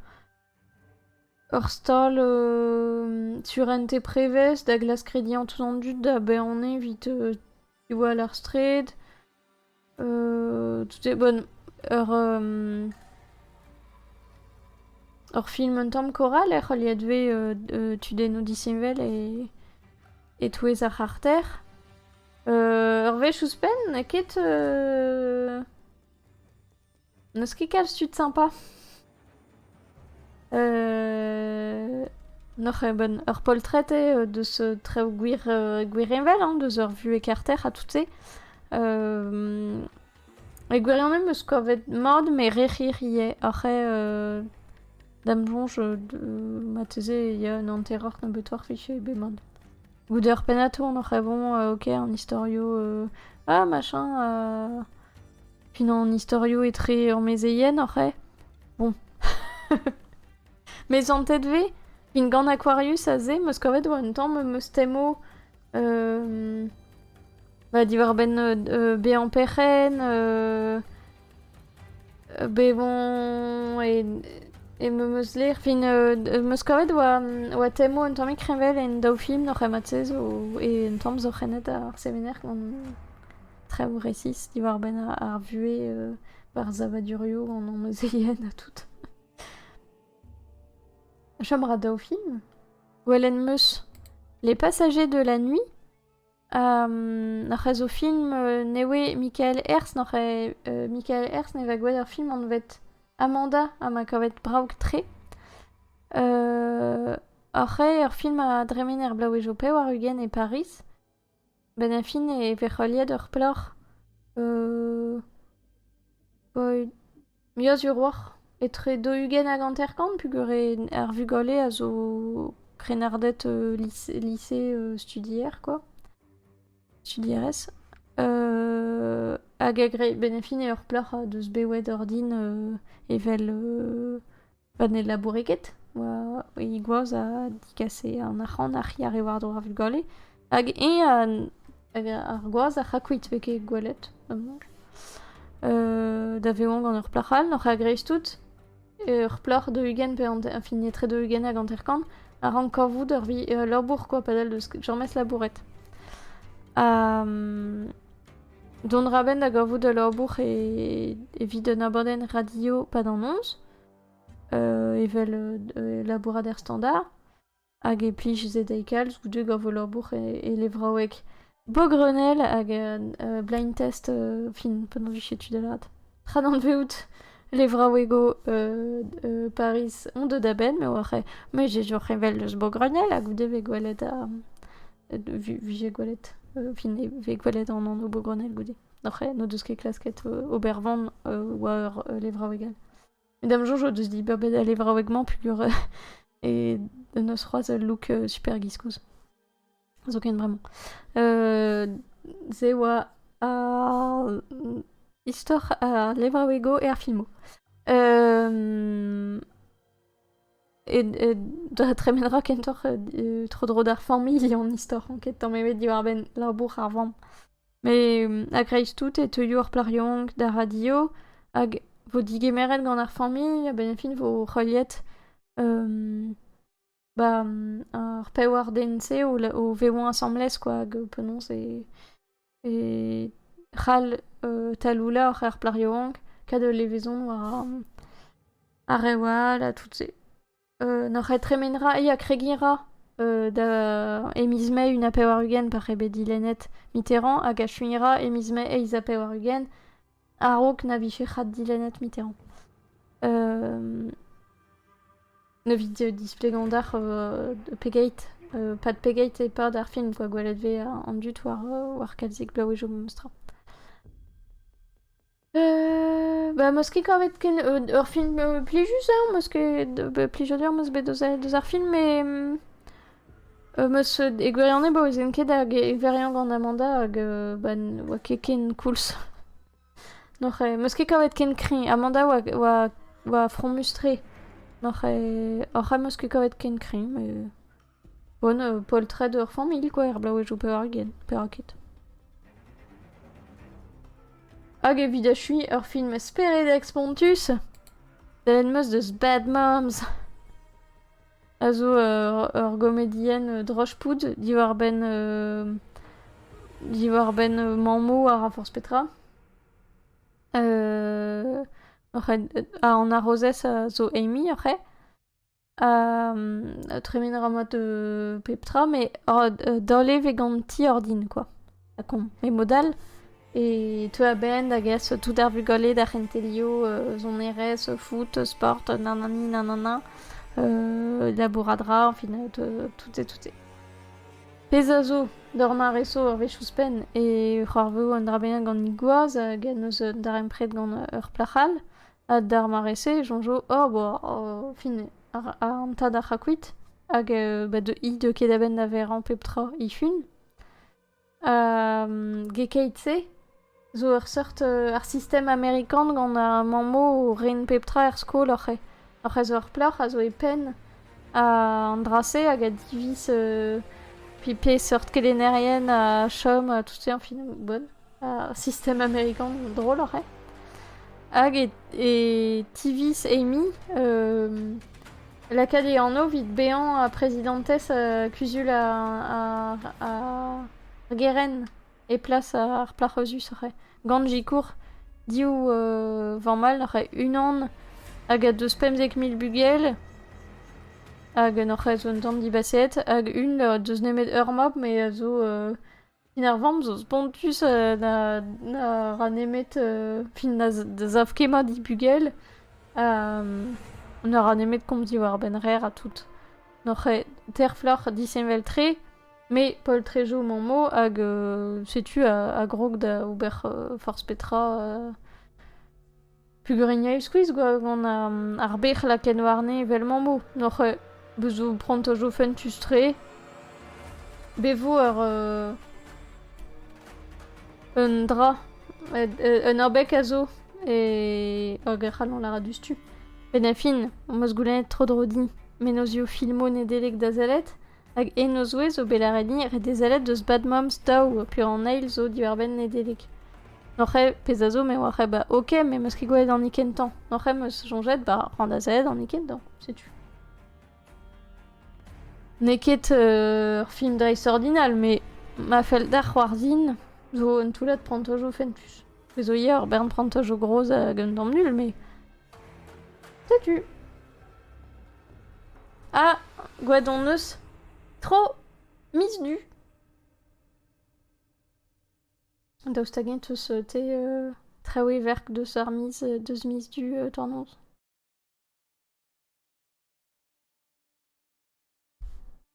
ur stal surentez prevez da glask rediañ tout an dud da baeañ evit e oa ur straed toute bon ur ur film un tamm koral ec'h oliet vez tudennoù disheñvel e-touez ar c'harter ur wech ouzhpenn ket N'eus ket kalz tud sympa. N'oc'h ket ben ur poltred eo deus traoù gwir gwirheñvel hein, deus ur vuhez karter ha tout-se. E gwirionez 'm eus kavet mat met re hir ivez. Oc'h eo da'm soñj marteze e ya un hanteroc'h nebeutoc'h fiche bet mat. Goude ur pennad-tour n'oc'h ket bon ok an istorioù ah machin Unan istorioù etre ur mezeien oc'h eo Bon. Mezantet vez Vin gant Aquarius aze, 'm eus kavet war un tamm em eus temo euh, bah, diwar-benn euh, bezañ perc'henn, euh, bevañ e, e me eus ler. Fin, euh, em eus kavet war, war temo un tammig kreñvel en daou film oc'h emañ zo, e un tamm zo c'hennet ar semener gant traoù resis diwar-benn ar vuhez ba'r savadurioù an amezeien ha tout. Chom a ra daou film. Gwelet 'm eus Les Passagers de la nuit. Um, nac'h ez o film uh, ne oe Michael Herz, nac'h e uh, Michael Herz ne va gwelet ar film anvet Amanda ha ma kavet braok-tre. Uh, ar c'he ur film a dremen er blaouejo pevar ugent e Paris. Benn ar fin e vez heuliet ur plac'h muiañ-sur roc'h etre daou-ugent hag hanter-kant pugere ar vugale a zo krennarded lise-studier quoi, studierez hag benn ar fin eo ur plac'h deus bet wet ordin evel Pa ne laboure ket, oa he gwaz a digase an arc'hant a c'hiare war-dro ar vugale. Hag eñ ar gwaz a c'hra kuit 'vez ket gwelet amañ. da vevañ gant ur plac'h all, oc'h a-greiz-tout, ur plac'h deux-ugent pe hanter, enfin etre deux-ugent hag hanter-kant, a rank kavout ur vi- ul labour, quoi, padal 'deus james labouret. Ha Dont ra benn da gavout ul labour evit un abadenn radio pa da noz, evel labourat er standard. Hag e plij se dezhi kalz goude gant ul labour e levraoueg Bogrenel hag blind test fin penaos 'vije tu da lâret. Prananveout levraouego euh, euh, Paris on deu da benn, me oar eo. Me j'ai joch evel eus Bogrognel ha goude vez gwelet a... Vije gwelet... Euh, fin vez gwelet an anv Bogrognel goude. Oc'h n'o deus ket klasket ober van war levraouegal. Et dam joch o deus dit ba bet a levraoueg-mañ pugur e neus c'hoaz ul look super giskouz. zoken vraiment. se oa ar istor ar levraouego e ar filmoù. E, e, da tremenra kentoc'h e, tro-dro d'ar familh an istor an ket tamm ebet diwar-benn labour ar vamm. Met a-greiz-tout e teuio ar plac'h-yank d'ar radio hag vo digemeret gant ar familh a-benn fin vo heuliet Ba, ar pewar den-se o l- o vevañ asambles quoi, hag penaos e e c'hall taloullañ er plac'h yaouank kat ul levezon war ar rev all ha tout se. N'hor c'hred tremen ra, ya kregiñ ra da e miz Mae un ha pevar-ugent pa c'eo bet dilennet Mitterrand hag achuiñ ra e miz Mae eizh ha pevar-ugent. A-raok na vije ret dilennet mitezañ. Evit displegañ deoc'h pegeit, pad pegeit e-pad ar film kwa gwellet vez an dud war kalzik bloavezhioù memestra. Ba meus ket kavet ken ur film plijus deoc'h, meus ket plijadur meus bet deus ar film, met Am eus e gwirionez baouezen ket hag e viriañ gant Amanda hag ba ne oa ket ken koulz. N'hoc'h eo, 'm eus ket kavet ken kreñv. Amanda oa oa oa fromus-tre. N'hoc'h eo, hoc'h am eus ket kavet ken kreñv met bon poltred ur familh kwa er bloavezhioù pevargent pevaket. Hag evit achuiñ ur film speredek spontus, sellet 'm eus deus Bad Moms. a zo ur gomedienn drozh-poud diwar-benn diwar-benn mammoù ha ra forzh petra. an harozez a zo Amy ec'h eo. Ha tremen a ra mat pep tra, met daol eo 'vez gant ti ordin kwa. Kon. E mod-all e teu a-benn da gas tout ar vugale d'ar c'hentelioù sonerezh, foot, sport, nanani nanana, labourat 'ra, enfin tout et tout e. Pezh a zo, d'ur mare-so ur wech ouzhpenn e c'hoarveo un dra bennak gant he gwaz hag en deus un darempred gant ur plac'h all ha d'ar mare-se e soñjo oh bo fin an tad a c'hra kuit hag he deu ket a-benn da verañ pep tra he fun. Gekeit-se zo ur seurt ar sistem amerikan gant ar mammoù o ren pep tra er skol oc'h e zo ur plac'h a zo e penn an dra-se hag a diviz pe peseurt kelennerien a chom tout-se, enfin, bon. ar sistem amerikan droloc'h eo. Hag e, tiviz Amy lakaat e anv evit bezañ ha prezidantez kuzul ar, ar, ar geren e plas ar plac'h eus gant sikour div uh, vamal c'he unan hag a deus pemzek mil bugel hag en hoc'h un tamm dibaseet hag un o deus nemet ur mab me a zo uh, Fin ar vamm zo spontus euh, na, na ra nemet euh, fin na z- da sav ket mat he bugel. Ha, mm, na ra nemet komz diwar-benn rer ha tout. N'oc'h ket terfloc'h disheñvel-tre, me poltre zo mon mot hag euh, setu a, a grog da ober euh, forzh petra. euh. Peogwir e skuizh gant ar bec'h lakaet warne evel mammoù. N'oc'h bet zo prantajoù fentus-tre. Bet vo ur un dra, un abeg a zo hag e c'hallont lâret diouzhtu. Benn ar fin, am eus goulennet tro-dro din mennozhioù filmoù Nedeleg da sellet. Hag en o zouez zo bet lâret-ni re dezellet deus Bad Moms Daou peogwir an eil zo diwar-benn Nedeleg. N'oc'h eo pezh a zo me oar eo ba ok me 'm eus ket gwelet an hikenn 'tañ. N'oc'h eo 'm eus soñjet ba ran da sellet an hikenn 'tañ, setu. N'eo ket ur film dreistordinal met ma fell deoc'h c'hoarzhin zo un toullad prantajoù fentus. Pezh zo ivez ur bern prantajoù gros hag un tamm nul met setu. Ah ! gwad hon eus ! Tro ! miz du ! Daoust hag-eñ 'teus te traoù everk deus ar miz deus miz du tornaos ?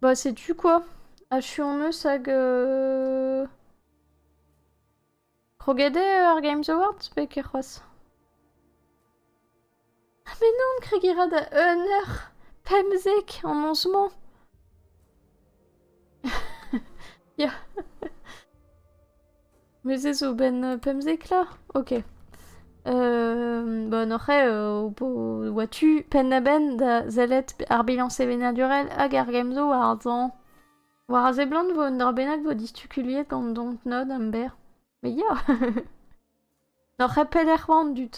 Bah setu quoi. Achu on eus hag euh... Kroget eo ar Games Awards pe ket c'hoazh? Ah mais non, kregiñ ra da un heure pemzek en onze-mañ. Ya. Met se zo 'benn pemzeklañ? Ok. Bon après ho po oa tu penn-ha-benn da sellet ar bilañs sevenadurel hag ar gemzo war ar zañ. War a seblant vo un dra bennak vo distukuliet gant dontnod am ber. Mais ya! N'oc'h ket peder c'hoant dud.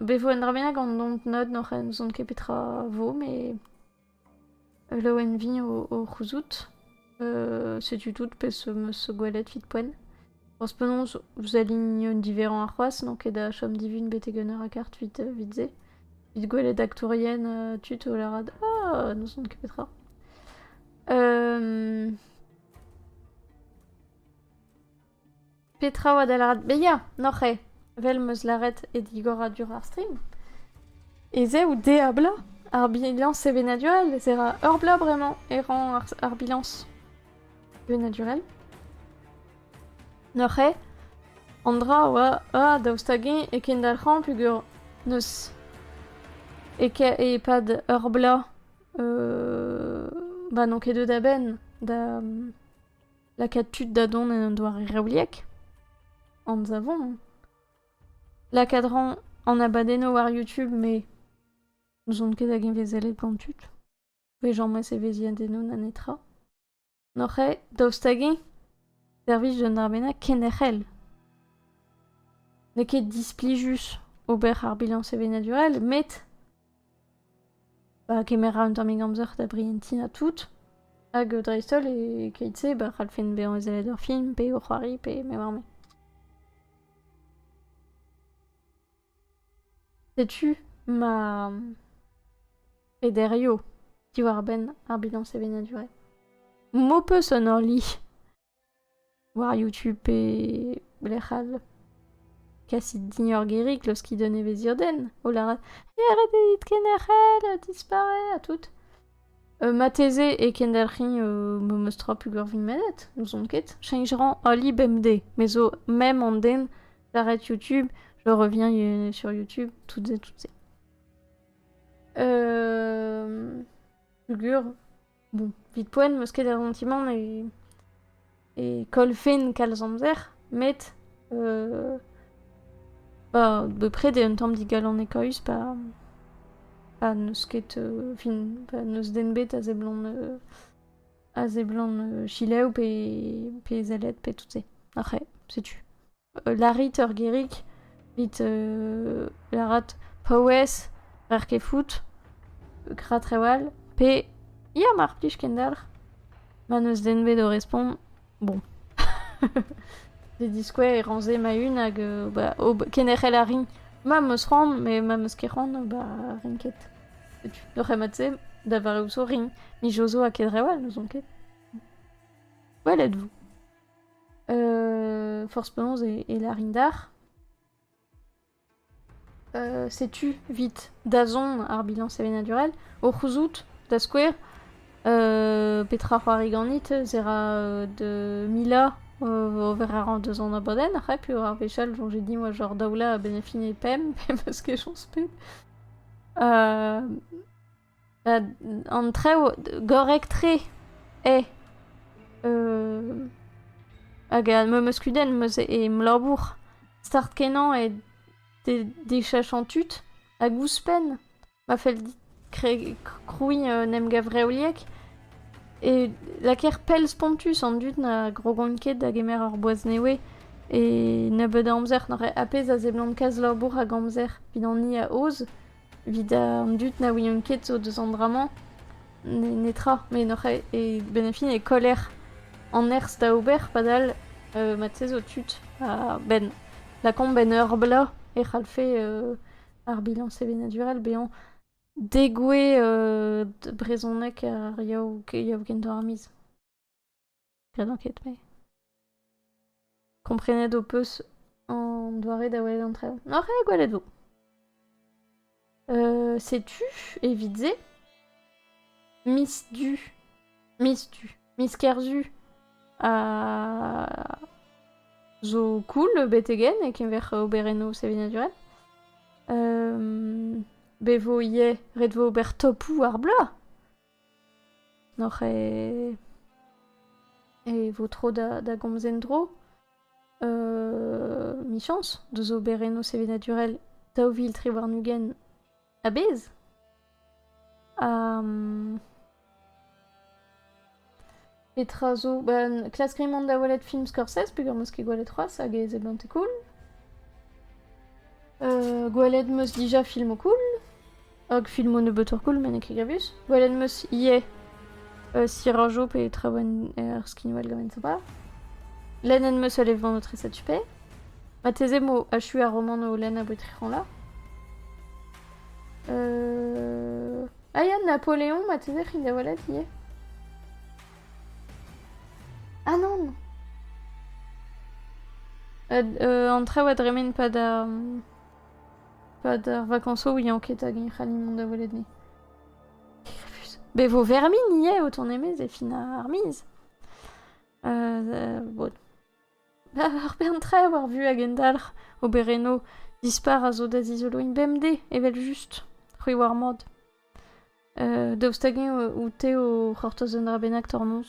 Be vo un dra bennak an dont-nad n'oc'h n'ouzon ket petra vo, met laouen-viñ o c'houzout. setu tout pezh 'meus gwelet 'vit poent. Forzh penaos, vous alignent diverrañ c'hoazh, n'on ket da chom divin betek un eur ha kart 'vit se. 'Vit gwelet aktourien tud o lârat «Ah! n'ouzon ket petra». Petra oa da lâret bezañ, n'oc'h eo, vel m'eus lâret e digoradur ar stream? Ez eo diablañ ar bilañs sevenadurel ez a ur bloaz bremañ e rañ ar bilañs sevenadurel. N'oc'h eo an dra oa a daoust hag-eñ e kendalc'hañ peogwir n'eus e-pad ur bloaz ba n'on ket deuet a-benn da Lakaat tud da dont en un doare revliek Anzavon Lakaat ran an abadennoù war YouTube, me n'ouzon ket hag evezelet gant tud. Vejañmez evezhiadennoù na netra. N'oc'h eo daoust hag-eñ servij d'un arbennañ kenderc'hel. N'eo ket displijus ober ar bilañs sevenadurel, met Bah kemera un tammig amzer da brientiñ ha tout. Hag dreist-holl e-keit-se bah c'hallfen bezañ ezellet ur film pe ur c'hoari pe me oar me. Setu ma pederioù diwar-benn ar bilañs sevenadurel. M'ho peus un orli. War YouTube pe lec'h all. Kasit din ur gerig laoskit un evezhierdenn. O lâret «Eh, ret eo dit kenderc'hel, disparaît ha tout». marteze e kendelc'hin memes tra pugurvin menet, n'ouzon ket. Cheñch rañ ali bemdez. Me zo même an den d'arrêt YouTube, je reviens sur YouTube, toutes et toutes ces. Pugur. Bon, vite poen, meus ket a zantimant e, e koll fen kalz amzer, met euh, bah, bepred eo un tamm digalonekaus pa, pa n'eus ket, euh, fin, pa n'eus den bet a seblant, euh, a seblant euh, chilev pe, pe zellet pe tout se. Arc'he, setu. Lârit ur gerig, dit lârat paouez, n'er ket fout, gra trawal, pe ya mar plij kendalc'h. Ma n'eus den 'bet o respont, bon. D'e diskouez e ran se ma-un hag bah kenderc'hel a rin. Ma 'm eus c'hoant met ma 'm eus ket c'hoant bah rin ket. Setu, d'o c'hemat-se, da vare ouzo rin. Mijozo ha ket trawal n'ouzon ket. Gwelet 'vo. Euh, force penaos e, e larin d'ar. Euh, setu vit dazon ar bilan sevenadurel. O c'houzout, da skouer, euh, petra c'hoari ganit, zera euh, de mila euh, vera ran deus an abadenn, a pu ar vechal joan j'ai dit moi genre daoula a benefine pem, pem eus ke joans pe. Euh, An traoù gorrek-tre eo. Hag ma 'm eus kudenn em labour start-kenañ eo dechachañ tud. Hag ouzhpenn ma fell dit krouiñ un emgav reoliek e lakaer pell spontus an dud na grogont ket da gemer ur boaz nevez. E nebeud a amzer n'aure ar pezh a seblant kalz labour hag amzer, 'vit an hini a aoz. Evit an dud na ouient ket zo deus an dra-mañ, netra. Met hoc'h e-benn ar fin e koller an nerzh da ober padal mat-se zo tud a-benn lakaomp en ur bloaz e c'hallfe ar bilañs sevenadurel bezañ degouezh brezhoneg ar yaou kentoc'h ar miz. Penaos ket me Komprenet ho peus an doare da welet an traoù N'oc'h ket gwelet vo euh, Setu, evit se, Miss Du Miss Du Miss Kerzu a zo cool betegen e keñver oberennoù sevenadurel. Euh, be vo ivez ret vo ober topoù ar bloaz. N'oc'h e vo tro da gomz en-dro. Michañs deus oberennoù sevenadurel daou vil tri warn-ugent a-bezh. Petra zo? Ba, klask rit mont da welet film Scorsese peger meus ket gwelet c'hoazh hag ez eo beñte cool. Euh, gwelet meus dija filmoù cool, hag filmoù nebeutoc'h cool met n'eo ket grevus. Gwelet meus ivez euh, Sirajo pe Traouen er skinwel gavet zo ba. Lennet meus ul event o treset supe. Mateze mo achu ar romant o lenn a boe tric'han la. Euh... Ah ya, Napoleon, marteze c'hin da welet ivez. Ah non euh, An traoù a dremen pad ar... pad ar vacansoù yañ ket hag eñ c'halli mont da welet ni. Be vo vermin ivez o tont e-maez e fin ar miz. Euh, euh, bod. ar bern-traoù ar vuhez a gendalc'h oberennoù dispar a zo da zizoloiñ bemdez evel-just c'hwi oar mat daoust hag-eñ out-te o c'hortoz un dra bennak tornoz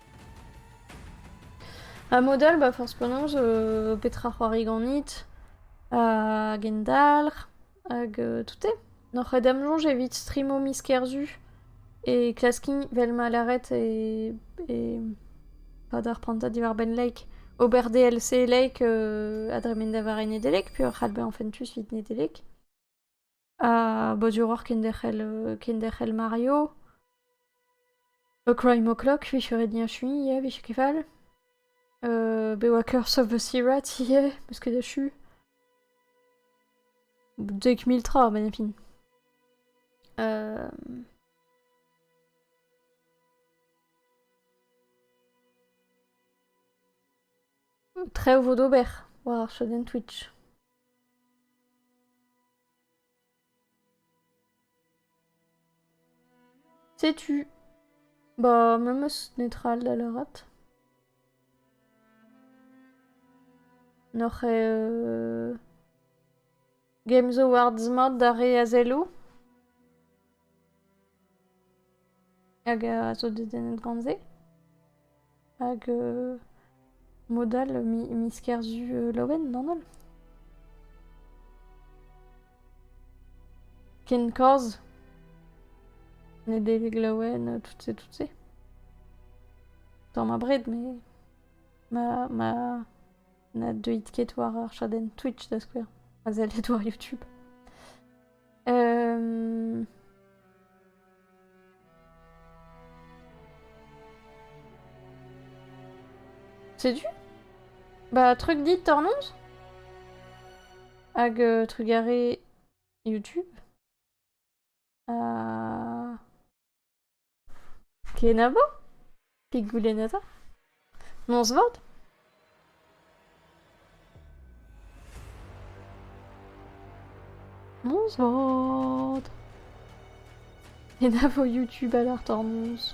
Ha mod all, ba forzh penaos, euh, petra c'hoari ganit, ha gendalc'h, hag euh, tout eo. N'oc'h ket da'm soñj evit strimo miz Kerzu e klaskign, vel ma lâret, e... e... pas d'ar prantad diwar-benn Lake, ober DLC Lake euh, a dremen da war Nedelec, peoc'h adbezañ fentus evit Nedelec. ha boduroc'h kenderc'hel euh, kenderc'hel Mario. A Crime O'Clock, vije ret niachuiñ ivez, vije ket fall. Euh, be oa Curse of the Sirats ivez, meus ket achu. Dek mil tra, baina fin. Euh... Trev vo d'ober war ar chadenn Twitch. Setu. Bah, memes netra all da lâret. N'oc'h euh, Games Awards mat d'ar re a zello? Hag a zo dedennet gant se. Hag mod all miz Kerzu Laouen d'an holl. Ken kaoz. Nedeleg Laouen, tout se, tout se. Tamm abred, mais ma ma na deuit ket war ar chadenn Twitch da skouer. Ma sellit war YouTube. Setu Bah, truc dit Tormund Hag euh, trugaré YouTube. Euh... Kenavo? Pet goulenn eta? Noz-vat? Noz-vat! Enavo YouTube alert ar noz.